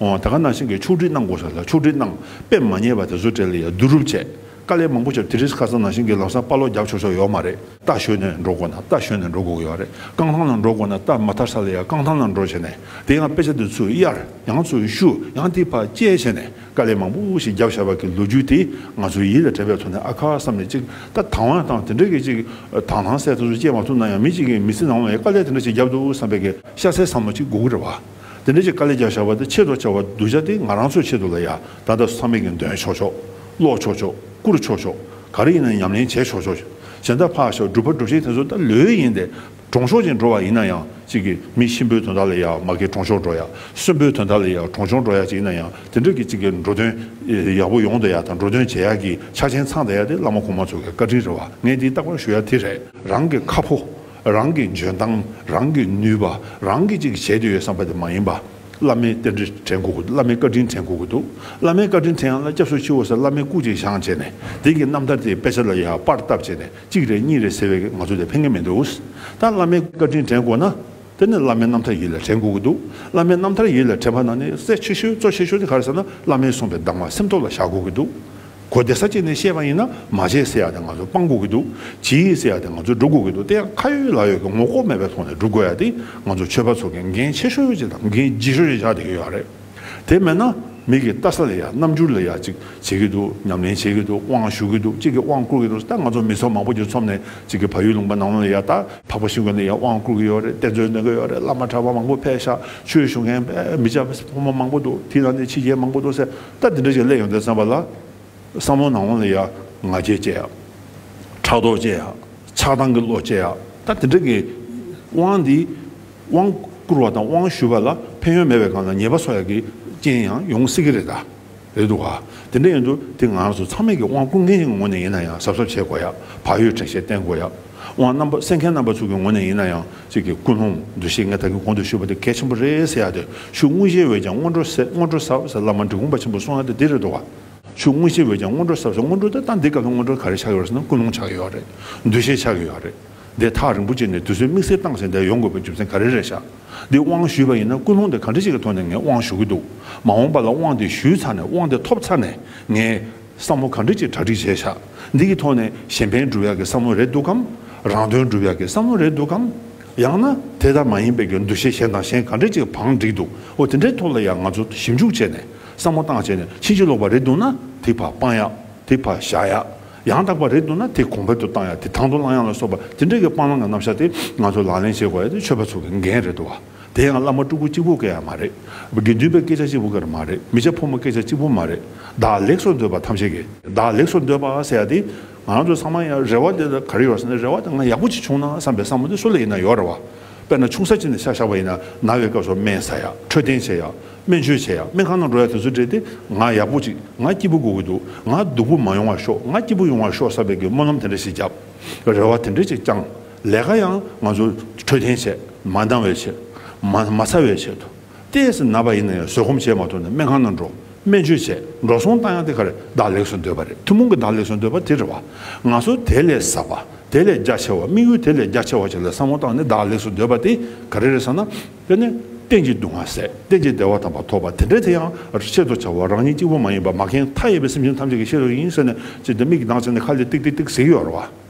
ད་ག་ནང་བཞིན་གྱི་ཕྱུགས་འདྲིལ་གནང་དགོས་ས་ལ་ཕྱུགས་འདྲིལ་གནང། དཔེ་མ་རྙེད་པ་དེ་ཚོ་བྲལ་ཡ་བསྡུ་རུབ་བྱས། དཀའ་ལས་མང་པོ་བྱས་དེ་རིས་ཁ་སང་ནང་བཞིན་གྱི་ལམ་སང་དཔའ་ལོག་རྒྱབ་ཆོག་ཆོག་ཡོག་མ་རེད། རྟ་ཞོན་ནས་འགྲོ་དགོས་ན་རྟ་ཞོན་ནས་འགྲོ་དགོས་ཡོག་རེད། རྐང་ཐང་ལ་འགྲོ་དགོས་ན་རྟ་མ་ཐར་ས་ལ་ཡང་རྐང་ཐང་ལ་འགྲོ་བྱས་ནས་དེ་ཡང་དཔེ་ཆ་དེ་ཚོས་གཡར་ཡང་ཚོས་བཤུ་ཡང་དེ་བར་བཅད་བྱས་ནས་དཀའ་ལས་མང་པོ་ཞིག་རྒྱབ་ཤར་བ་གི་ལོ་རྒྱུས་དེ་ང་ཚོའི་ཡིད་ལ་དྲན་པའི་ཐོག་ནས་ཨ་ཁ་བསམ་ནས་ཅིག་ད་དང་བ་དང་དེ་འདྲ་གི་ཅིག་དང་ཐང་སད་དེ་ཚོ་བཅད་མ་ཐུབ་ན་ཡང་མི་གཅིག་གིས་མི་ཚེ་ནང་བའི་དཀའ་ལས་དེ་འདྲ་ཞིག་རྒྱབ་འདུག་བསམ་པའི་ཤ་ཟའི་ཟ་མ་གཅིག་དགུ་དགུ་རེད་བ། དེ་འདྲ་ཅིག་དཀའ་ལས་རྒྱག་བཞག་པ་དེ་ཆེས་ཐོག་ཆེ་བ་གདུལ་བྱ་དེ་ང་རང་ཚོའི་ཆེད་དུ་ལ་ཡ་ད་ད་ཟ་མེད་ཀྱི་འདོན་ཆོག་ཆོག། ཀློག་ཆོག་ཆོག་བསྐུར་ཆོག་ཆོག་ག་རེ་ཡིན་ན་ཉམས་ལེན་བྱས་ཆོག་ཆོག། གཞན་དག་ཕག་ཞག་སྒྲུབ་པ་སྒྲུབ་བྱེད་དེ་ཚོ་ད་ལོས་ཡིན་ཏེ་གྲོང་ཤོག་ཅིག་འགྲོ་བ་ཡིན་ན་ཡང་ཅིག་གི་མི་གཤིན་པོའི་དོན་དག་ལ་ཡ་མ་གི་གྲོང་ཤོག་འགྲོ་ཡ་གསོན་པོའི་དོན་དག་ལ་ཡ་གྲོང་ཤོག་འགྲོ་ཡ་ཅིག་ཡིན་ན་ཡང་དེ་འདྲ་གི་ཅིག་གི་འགྲོ་དོན་ཡག་པོ་ཡོང་ད་ཡ་དང་འགྲོ་དོན་བྱེད་ཡག་གི་ཆ་ཆེན་ཚང་ད་ཡ་དེ་བླ་མ་གོང་མ་ཚོ་གི་བཀའ་དྲིན་རེད་བ་ངས་འདི་རྟག་པར་ཞུ་ཡ་དེ་རེད་རང་གི་ཁ་ཕོ། རང་གི་འཇོན་ཐང་རང་གི་ནུས་པ་རང་གིས་ཅིག་བྱེད་དུ་ཡོད་བསམ་པ་དེ་མ་ཡིན་པ། བླ་མའི་རྟེན་འབྲེལ་དྲན་ཁོ་གི་འདུག་བླ་མའི་བཀའ་དྲིན་དྲན་ཁོ་གི་འདུག་བླ་མའི་བཀའ་དྲིན་དྲན་ཡང་ན་སྐྱབས་སུ་མཆི་འོ་ཟེར་བླ་མའི་སྐུ་གཅིག་བཞེངས་བྱས་ནས་དེང་གི་རྣམ་ཐར་དེའི་དཔེ་ཆ་ལ་ཡང་པར་བཏབ་བྱས་ནས་གཅིག་རེད་གཉིས་རེད་ཟེར་བའི་ང་ཚོ་དེ་ཕན་གི་མི་འདུག་ད་བླ་མའི་བཀའ་དྲིན་དྲན་དགོས་ན་དེ་ནི་བླ་མའི་རྣམ་ཐར་ཡིད་ལ་དྲན་དགོས་ཀྱི་འདུག་བླ་མའི་རྣམ་ཐར་ཡིད་ལ་དྲན་པ་ན་ནི་གསལ་ཆེ་ཤོས་གཙོ་ཆེ་ཤོས་དེ་ག་རེ་ཟེར་ན་བླ་མའི་གསུངས་པའི་གདམས་ངག་སེམས་ཐོག་ལ་བཞག་དགོས་ཀྱི་འདུག། གོ་དེ་ས་བཅད་ནས་བཤད་པ་ཡིན་ན་མ་བྱས་ཟེར་ཡག་དེ་ང་ཚོ་སྤང་དགོས་ཀྱི་འདུག་བྱེད་ཡིག་ཟེར་ཡག་དེ་ང་ཚོ་འགྲོ་དགོས་ཀྱི་འདུག་དེ་ཡང་ཁ་ཡོད་ལག་ཡོད་ཀྱི་ངོ་ལྐོག་མེད་པའི་ཐོག་ནས་སྒྲུབ་དགོས་ཡག་དེ་ང་ཚོ་ཆོས་པ་ཚོ་གིས་འགན་ཆེ་ཤོས་ཅིག་དང་འགན་ལྗིད་ཤོས་ཅིག་བཞག་བསྡད་ཀྱི་ཡོད་རེད། དེ་མེད་ན་མིག་གིས་བལྟ་ས་ལས་ཡག་རྣམ་འགྱུར་ལས་ཡག་ཅིག་བྱེད་ཀྱི་འདུག་ཉམས་ལེན་བྱེད་ཀྱི་འདུག་དབང་ཞུ་གི་འདུག་གཅིག་གིས་དབང་བསྐུར་གྱི་འདུག་ད་ང་ཚོ་མི་ཚོགས་མང་པོ་གྱི་ཚོམས་ནས་གཅིག་གིས་ཕ་ཡུལ་ལུང་པ་ནང་ལོག་ལ་ཡར་ལྟ། འཕགས་པ་ཤིང་ཀོན་ནས་ཡར་དབང་བསྐུར་གྱི་ཡོད་རེད་གཏེར་མཛོད་འདོན་གྱི་ཡོད་རེད་བླ་མ་གྲྭ་པ་མང་པོ་ཕེབས་ཤག་ཆོས་ཞུ་མཁན་མི་སྤྱ་ཕོ་མོ་མང་པོ་འདུག་དེའི་ནང་ནས་ཕྱི་རྒྱལ་མང་པོ་འདུག་ཟེར། ད་འདི་འདྲ་ཞིག་གླས་ཡོང་དོན་བསམ་པ་ལ། བསམ་བློ་ནང་བོ་ལ་ཡ་ང་བྱེད་ཅེས་ཡ། ཕྲག་དོག་ཅེས་ཡ། ཆགས་སྡང་གི་བློ་ཅེས་ཡ། ད་འདི་འདྲ་གི། དབང་འདི། དབང་བསྐུར་བ་དང་དབང་ཞུ་བ་ལ་ཕན་ཡོན་མེད་པའི་སྒང་ལ་ཉེས་པ་སོགས་ཡག་གི་རྐྱེན་ཡང་ཡོང་སྲིད་ཀྱི་རེད་ད། རེད་འདུག་ག། དེ་འདྲ་ཡིན་དུ་དེ་ང་ཚོ་ཚང་མས་ཀྱི་དབང་བསྐུར་མཁན་ཞིག་གི་ངོ་ནས་ཡིན་ན་ཡང་གཟབ་གཟབ་བྱེད་དགོས་ཡ། བག་ཡོད་དྲན་ཤེས་བརྟན་དགོས་ཡ། དབང་རྣམ་པ་གསན་མཁན་རྣམ་པ་ཚོ་གི་ངོ་ནས་ཡིན་ན་ཡང། ཚིག་གི་ཀུན་སློང་འདུ་ཤེས་ལྔས་བདག་གི་གོང་དུ་ཞུས་པ་དེ་གལ་ཆེན་པོ་རེད་ཟེར་ཡག་དེ་ཆུ་དངོས་གཞིའི་འོད་ཀྱང་སྔོན་འགྲོ་སྔོན་འགྲོ་ཟབ་ཟེར་བླ་མ་འབྲི་གུང་པ་ཆེན་པོ་གསུང་ཡག་དེ་འདི་རེད་འགྲོ་བ། ཆུ་དངོས་གཞིའི་འོད་ཀྱང་སྔོན་འགྲོ་ཟབ་ཟེར་སྔོན་འགྲོ་དེ་ལྟ་འདི་སྐབས་སྔོན་འགྲོ་ག་རེ་ཆགས་ཡོད་ཟེར་ན་ཀུན་སློང་ཆགས་ཡོད་ཡག་རེད་འདུ་ཤེས་ཆགས་ཡོད་ཡག་རེད་འདི་ཐག་རིང་པོ་བཅད་ནས་དུས་ཚོད་དམིགས་བསལ་བཏང་ཟིན་དེ་ཡོང་དགོས་པའི་རྒྱུ་མཚན་ག་རེ་རེད་ཤག་འདི་དབང་ཞུས་པ་ཡིན་ན་ཀུན་སློང་དེ་ག་འདྲ་ཞིག་གི་ཐོག་ནས་ངས་དབང་ཞུ་གི་འདུག་མ་འོངས་པ་ལ་དབང་དེ་ཞུས་ཚར་ནས་དབང་དེ་ཐོབ་ཚར་ནས་ངས། བསམ་བློ་གང་འདྲ་ཅིག་གྲ་སྒྲིག་བྱས་བཞག་འདི་གི་ཐོག་ནས་གཞན་ཕན་སྒྲུབ་ཡག་གི་བསམ་བློ་རེད་འདུག་གམ། རང་དོན་སྒྲུབ་ཡག་གི་བསམ་བློ་རེད་འདུག་གམ། ཡང་ན་དེ་ལྟར་མ་ཡིན་པའི་གྱི་འདུ་ཤེས་གཞན་དང་གཞན་གང་འདྲ་ཅིག་བང་བསྒྲིགས་འདུག་ཨོ་དེ་འདྲའི་ཐོག་ལ་ཡང་ང་ཚོ་ཞིབ་འཇུག་བྱས་ནས་བསམ་བློ་བཏང་བྱས་ནས་ཕྱིན་ཅི་ལོག་པ་རེད་འདུག་ན་དེ་བར་སྤང་ཡག་དེ་བར་བཞག་ཡག་ཡང་དག་པ་རེད་འདུག་ན་དེ་གོང་འཕེལ་དུ་བཏང་ཡག་དེ་དང་དུ་བླང་ཡག་ལ་སོགས་པ་དེ་འདྲ་གི་སྤང་བླང་གི་རྣམ་བཞག་དེ་ང་ཚོ་ལག་ལེན་བྱེད་དགོས་ཡ་དེ་ཆོས་པ་ཚོ་གི་འགན་རེད་འདུག་བ། དེ་ཡང་བླ་མ་སྤྲུལ་སྐུ་གཅིག་པུ་སྐད་ཡང་མ་རེད། དགེ་འདུན་པའི་སྐད་ཆ་གཅིག་པུ་སྐད་མ་རེད། མི་ཆ་ཕོ་མོ་སྐད་ཆ་གཅིག་པུ་མ་རེད། བདག་ལེགས་སོ་འདོད་པ་ཐམས་ཅད་ཀྱིས་བདག་ལེགས་སོ་འདོད་པ་ཟེར་ཡ་དེ། ང་རང་ཚོའི་ཚང་མ་ཡང་རེ་བ་དེ་ག་རེ་ཡོད་ཟེར་ན་རེ་བ་དེ་ང་ཡག་པོ་གཅིག་བྱུང་ན་བསམ་པའི་བསམ་བློ་དེ་སུ་ལ་ཡིན་ན་ཡོད་རེ་བ། དཔེར་ན་ཆུང་ས་གཅིག་ནས་ཤ་བཞག་པ་ཡིན་ན་ན་བའི་སྐབས་སུ་སྨན་ཟ་ཡ་འཕྲོད་བསྟེན་བྱེད་ཡ་སྨན་བཅོས་བྱེད་ཡ་སྨན་ཁང་ནང་འགྲོ་ཡ་དེ་ཚོ་བྲིས་ཏེ་ང་ཡག་པོ་གཅིག་ང་སྐྱིད་པོ་དགོས་ཀྱི་འདུག་ང་སྡུག་པོ་མ་ཡོང་བ་ཤོག་ང་སྐྱིད་པོ་ཡོང་བ་ཤོག་བསམ་པའི་སྒོས་སྨོན་ལམ་དེ་འདྲ་ཞིག་བརྒྱབ། རེ་བ་དེ་འདྲ་ཅིག་བཅངས། ལས་ཀ་ཡང་ང་ཚོ་འཕྲོད་བསྟེན་ཆེད་མ་འདང་བའི་ཆེད། མ་མ་ཚ་བའི་ཆེད་དུ། ལྟས་ཟིན་ན་པ་ཡིན་ན་ཡང་བཟོད་སྒོམ་བྱས་མ་ཐུབ་ན་སྨན་ཁང་ནང་འགྲོ་སྨན་བཅོས་བྱས་འགྲོ་སོང་བཏང་ཡང་དེ་གར་བདག་ལེགས་སུ་འདོད་པ་རེད་ཐུན་མོང་གི་བདག་ལེགས་སུ་འདོད་པ་དེ་རེད་བ། ང་ཚོ་དེ་ལས་ཟབ་པ་དེ་ལས་རྒྱ་ཆེ་བ་དམིགས་ཡུལ་དེ་ལས་རྒྱ་ཆེ་བ་ཞིག་ལ་བསམ་བློ་བཏང་ནས་བདག་ལེགས་སུ་འདོད་པ་དེ་ག་རེ་རེད་ཟེར་ན། དེ་ནི་བསྟན་གྱི་སྡུག་བསྔལ་ཟད་བསྟན་གྱི་བདེ་བ་དམ་པ་ཐོབ་པ་དེ་འདྲའི་དེ་ཡང་ཆེད་དུ་བྱ་བ་རང་ཉིད་གཅིག་པུ་མ་ཡིན་པར་མ་གན་མཐའ་ཡས་པའི་སེམས་ཅན་ཐམས་ཅད་ཀྱི་ཤེས་རབ་ཡིན་ཟེར་ནས་ཅི་སྟེ་མིག་གི་མདངས་བརྩེ་ནས་ཁ་ལས་ཏིག་ཏིག་ཏིག་ཟེར་གྱི་ཡོད་རེད་བ།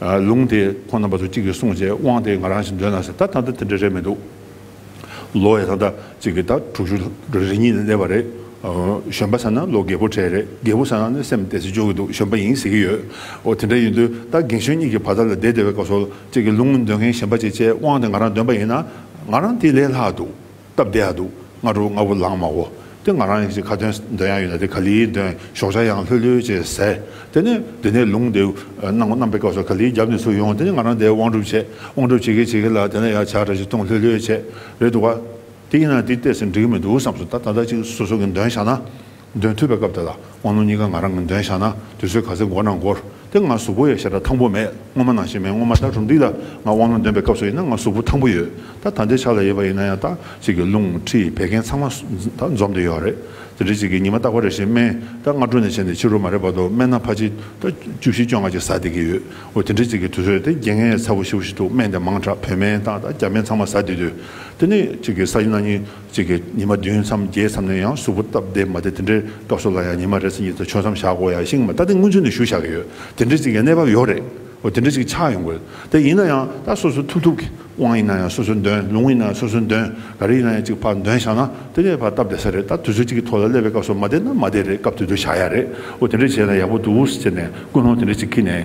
ལུང་དེ་ཁོང་རྣམ་པ་ཚོ་གཅིག་གིས་གསུངས་རྗེས་དབང་དེ་ང་རང་ཞིག་འདོན་ན་ཟེར་ད་ད་ལྟ་དེ་འདྲ་རེད་མི་འདུག་ལོ་ཡ་ད་ལྟ་གཅིག་གིས་ད་དྲུག་ཅུ་རེ་གཉིས་ལས་བར་རེད། གཞོན་པ་ཟེར་ན་ལོ་རྒས་པོ་གྲས་རེད་རྒས་པོ་ཟེར་ན་ནི་སེམས་བདེ་སེ་སྦྱོར་གི་འདུག་གཞོན་པ་ཡིན་ཟེར་གི་ཡོད། འོ་དེ་འདྲ་ཡིན་དུས་ད་རྒན་གཞོན་གཉིས་ཀྱི་བར་དག་ལ་བདེ་བདེ་བའི་སྐབས་སོ་གཅིག་གིས་ལུང་འདོན་མཁན་གཞན་པ་གཅིག་བཅས་དབང་དེ་ང་རང་འདོན་པ་ཡིན་ན་ང་རང་དེ་ལས་ལྷག་འདུག། སྟབས་བདེ་ཡག་འདུག་སྔ་དྲོ་ལྔ་བོ་ལངས་མ་འོ་དེ་ང་རང་གི་ཁ་དོན་འདོན་ཡག་ཡོད་ན་དེ་ག་ལིའི་འདོན་ཞོག་ཆ་ཡང་ལྷོད་ལྷོད་བྱས་ཟེར་དེ་ནས་དེ་ནས་ལུང་དེ་གནང་གནང་པའི་སྐབས་སུ་ག་ལིའི་རྒྱབ་ནས་ཚུར་ཡོང་དེ་ནས་ང་རང་དེ་དབང་སྒྲུབ་བྱས་དབང་སྒྲུབ་བྱེད་གི་བྱེད་གི་ལ་དེ་ནས་ཡང་བྱ་འདྲ་ཞིག་ཐུང་ལྷོད་ལྷོད་བྱས་རེད་འདུག་ག་དེ་ཡིན་ན་དེ་བལྟས་ཟིན་འགྲིག་གི་མི་འདུག་བསམས་སོ་ད་ད་ལྟ་ཅིག་སོ་སོ་གི་འདོན་བཞག་ན་འདོན་ཐུབ་པའི་སྐབས་དེ་ལ་དབང་ལུང་གཉིས་ཀ་ང་རང་གིས་འདོན་བཞག་ན་དུས་ཚོད་ག་ཚོད་འགོར་ན་འགོར་དེ་ང་གཟུགས་པོ་ཡོད་ཞེ་དྲག་ཐང་པོ་མེད་སྔོན་མ་ནང་བཞིན་མེད་སྔོན་མ་ད་གྲུབ་འདུག་ད་ང་དབང་ལུང་འདོན་པའི་སྐབས་སུ་ཡིན་ན་ང་གཟུགས་པོ་ཐང་པོ་ཡོད་ད་ད་ལྟའི་ཆ་ལ་ཡོད་པ་ཡིན་ན་ཡང་དག་ཅིག་གི་ལུང་ཁྲིད་བད་ཀན་ཚང་མ་ད་འཛོམས་ཏེ་ཡོད་རེད་ད་འདྲི་ཅིག་གི་ཉི་མ་རྟག་པ་རེ་བཞིན་སྨན་ད་སྔ་དྲོ་ནས་བྱས་ནས་ཕྱི་རོལ་མ་རེད་བར་དུ་སྨན་སྣ་ཕ་ཅིག་ད་བཅུ་བཞི་བཅོ་ལྔ་ཅིག་ཟ་བསྡད་ཀྱི་ཡོད་འོ་དེ་འདྲི་ཅིག་གི་དུས་ཚོད་དེ་རྒྱན་ངའི་ཚ་བོ་ཤི་བོ་ཞིག་འདུག་སྨན་དེ་མང་དྲག་བོད་སྨན་དང་ད་རྒྱ་སྨན་ཚང་མ་ཟ་བསྡད་དུས་དེ་ནས་ཅིག་གི་ཟ་བཞིན་ན་ཉིན། གཅིག་གིས་ཉི་མ་བདུན་མཚམས་བརྒྱད་མཚམས་ནས་ཡང་གཟུགས་པོ་སྟབས་བདེ་མ་དེ་དེ་འདྲའི་སྐབས་སུ་ལ་ཡང་ཉི་མ་རེ་ཚེ་གཉིས་ཚེ་ཆོད་མཚམས་བཞག་གོ་ཡ་ཤིང་མ་ད་དེ་སྔོན་ཚུད་ནས་ཞུ་བཞག་གི་ཡོད་དེ་འདྲའི་གཅིག་ཡ་གནས་བབ་ཡོད་རེད་འོ་དེ་འདྲའི་གཅིག་ཆགས་ཡོང་གི་དེ་ཡིན་ན་ཡང་ད་སོ་སོའི་ཐུབ་ཐུབ་གི་དབང་ཡིན་ན་ཡང་སོ་སོའི་འདོན་ལུང་ཡིན་ན་ཡང་སོ་སོའི་འདོན་ག་རེ་ཡིན་ན་ཡང་གཅིག་ཕར་འདོན་བཞག་ན་དེ་ནས་ཕར་སྟབས་བདེ་ས་རེད་ད་དུས་ཚོད་གཅིག་གི་ཐོག་ལ་སླེབས་པའི་སྐབས་སུ་མ་དེ་ན་མ་དེ་རེད་སྐབས་དེ་དུས་བཞག་ཡ་རེད་འོ་དེ་འདྲའི་བྱས་ན་ཡག་པོ་འདུག་ཟེར་ནས་ཀུན་སློང་དེ་འདྲའི་གཅིག་ཁྱི་ནས་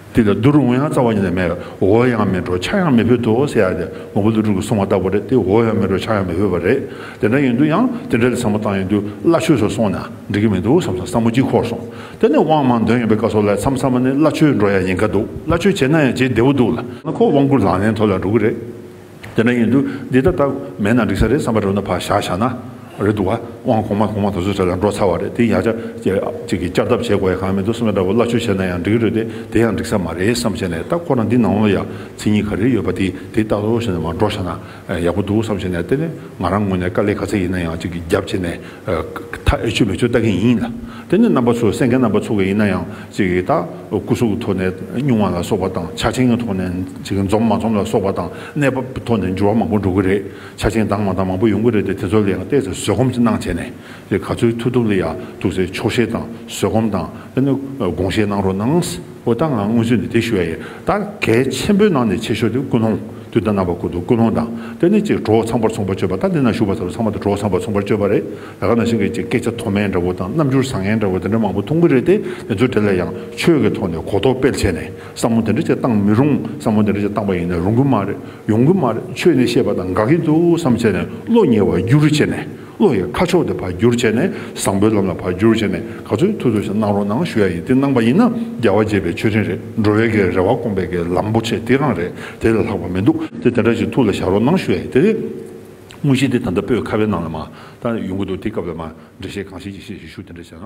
དེ་ལ་རྡོ་རུ་ངོ་ཡང་རྩ་བ་ཉིད་ལས་མེད་པས་འོ་ཡང་མི་འགྲོ་ཆ་ཡང་མི་ཕོད་དོ་ཟེར་ཡ་དེ་ངོ་བོ་ལུགས་དྲུག་གི་སོང་བ་ལྟ་བུ་རེད་དེ་འོ་ཡང་མི་འགྲོ་ཆ་ཡང་མི་ཕོད་པ་རེད་དེ་འདྲ་ཡིན་དུས་ཡང་དེ་འདྲ་ལས་བཟང་པོ་བཏང་ཡིན་དུས་བླ་ཆོས་སུ་སོང་ན་འགྲིག་གི་མི་འདུག་བསམ་སོང་བསམ་བློ་སྐྱིད་ཁོག་སོང་དེ་ནས་དབང་མང་འདོན་ཡོད་པའི་བཀའ་སོགས་ལས་མཚམས་བསམ་པ་ནི་བླ་ཆོས་འགྲོ་ཡ་ཡིན་ག་འདུག་བླ་ཆོས་བྱས་ན་ཡང་བྱེད་བདེ་བོ་འདུག་ལ། ཁོ་དབང་བསྐུར་ལག་ལེན་ཐོག་ལ་འགྲོ་གི་རེད། དེ་འདྲ་ཡིན་དུས་འདི་ལྟར་སྟབས་མེད་ན་འགྲིག་ས་རེད་བསམ་པ་རེད་ནོ་བག་ཞག་བཞག་ན་རེད་འདུག་བ་དབང་གོང་མ་གོང་མ་དེ་ཚོ་ཚོད་ལ་འགྲོ་ཚར་བ་རེད་དེ་ཡང་ཅག་ཅིག་གིས་བསྐྱར་ལྡབ་བྱེད་དགོས་ཡ་གང་མི་འདུག་སེམས་པ་འདྲ་པོ་སླ་ཆོས་བྱས་ན་ཡང་འགྲིག་རེད་དེ་དེ་ཡང་འགྲིག་ས་མ་རེད་བསམ་བྱས་ནས་ད་ཁོ་རང་འདི་ནང་ལོ་ཡ་ཚིག་གཉིས་ག་རེ་ཡོད་པ་དེ་དེ་ལྟ་བུ་བྱས་ནས་མ་འགྲོ་ཤ་ན་ཡག་པོ་འདུག་བསམ་བྱས་ནས་དེ་ནས་ང་རང་ངོས་ནས་དཀའ་ལས་ག་ཚད་ཡིན་ན་ཡང་ཅིག་གིས་རྒྱབ་བྱས་ནས་མཐའ་ཨེ་ཆོད་མེ་ཆོད་ལྟ་མཁན་ཡིན་ལ། དེ་ནི་རྣམ་པ་ཚོས་སེམས་མཁན་རྣམ་པ་ཚོ་ག་ཡིན་ན་ཡང་ཅིག་ལྟ། སྐུ་གཟུགས་ཐོག་ནས་བསྙུང་བ་ལ་སོགས་པ་དང་ཆ་ཆེན་གྱི་ཐོག་ནས་ཅིག་འཛོམས་མ་འཛོམས་ལ་སོགས་པ་དང་གནས་བབ་ཀྱི་ཐོག་ནས་འགྱུར་བ་མང་པོ་འགྲོ་གི་རེད་ཆ་ཆེན་དྭངས་མ་དང་མང་པོ་ཡོང་གི་རེད་དེ་དེ་ཚོ་ལ་ཡང་བལྟས་ཚེ་བཟོད་སྒོམ་གྱི་གནང་བྱས་ནས་ཅིག་ག་ཚོད་ཐུབ་ཐུབ་ལ་ཡ་ཐུབ་སའི་ཆོག་ཤེས་དང་བཟོད་སྒོམ་དང་དེ་ནི་དགོངས་བཞེས་གནང་རོགས་གནང། འོ་ད་ང་སྔོན་ཚུད་ནས་དེ་ཞུ་ཡ་ཡིན་ད་གལ་ཆེན་པོའི་ནང་ནས་ཆེ་ཤོས་དེ་ཀུན་སློང་དུས་ད་ནང་པ་ཀུ་ཀུན་སློང་དང་དེ་ནས་ཅིག་གྲོགས་ཚངས་པར་ཚོང་པ་སྤྱོད་པ་ད་འདི་ན་ཞུགས་པ་ཚོར་ཚང་མ་དེ་གྲོགས་ཚངས་པར་ཚོང་པར་སྤྱོད་པ་རེད་ད་ག་ནང་བཞིན་གྱི་ཅིག་སྐད་ཆ་མཐོ་དམན་འདྲ་བོ་དང་རྣམ་འགྱུར་བཟང་ངན་འདྲ་བོ་དེ་འདྲ་མང་པོ་མཐོང་གི་རེད་དེ་དེ་ཚོ་དེ་ལ་ཡང་ཆོས་ཀྱི་ཐོག་ནས་གོ་རྟོགས་སྤེལ་བྱས་ནས་བསམ་བློ་དེ་འདྲ་ཅིག་བཏང་མི་རུང་བསམ་བློ་དེ་འདྲ་ཅིག་བཏང་པ་ཡིན་ན་རུང་གི་མ་རེད་ཡོང་གི་མ་རེད་ཆོས་ནི་ཤེས་པ་དང་དགག་གི་འདུག་བསམ་བྱས་ནས་བློ་ཉེ་བར་རྒྱུགས་རུ་བྱས་ནས། བློ་ཡི་ཁ་ཕྱོགས་དེ་བར་བསྒྱུར་བྱས་ནས་བཟང་པོའི་ལམ་ལ་བར་བསྒྱུར་བྱས་ནས་ག་ཚོད་ཐུབ་ཐུབ་ཞིག་གནང་རོགས་གནང་ཞུ་ཡ་ཡིན་དེ་གནང་པ་ཡིན་ན་རྒྱལ་བ་དགྱེས་པའི་མཆོད་སྤྲིན་རེད་འགྲོ་བའི་གའི་རེ་བ་སྐོང་པའི་གའི་ལམ་པོ་ཆེ་དེ་གང་རེད་དེ་ལས་ལྷག་པ་མི་འདུག་དེ་དེ་འདྲ་ཞིག་ཐུགས་ལ་བཞག་རོགས་གནང་ཞུ་ཡ་ཡིན་དེ་རེད། དངོས་གཞི་དེ་ད་ལྟ་པོད་ཁ་བའི་ནང་ལ་མ་ད་ཡོང་གི་འདུག་དེ་སྐབས་ལ་མ་འགྲེལ་བཤད་གང་བྱེད་ཀྱི་ཤེས་ཞིག་ཞུ་དེ་འདྲ་བྱས་ན།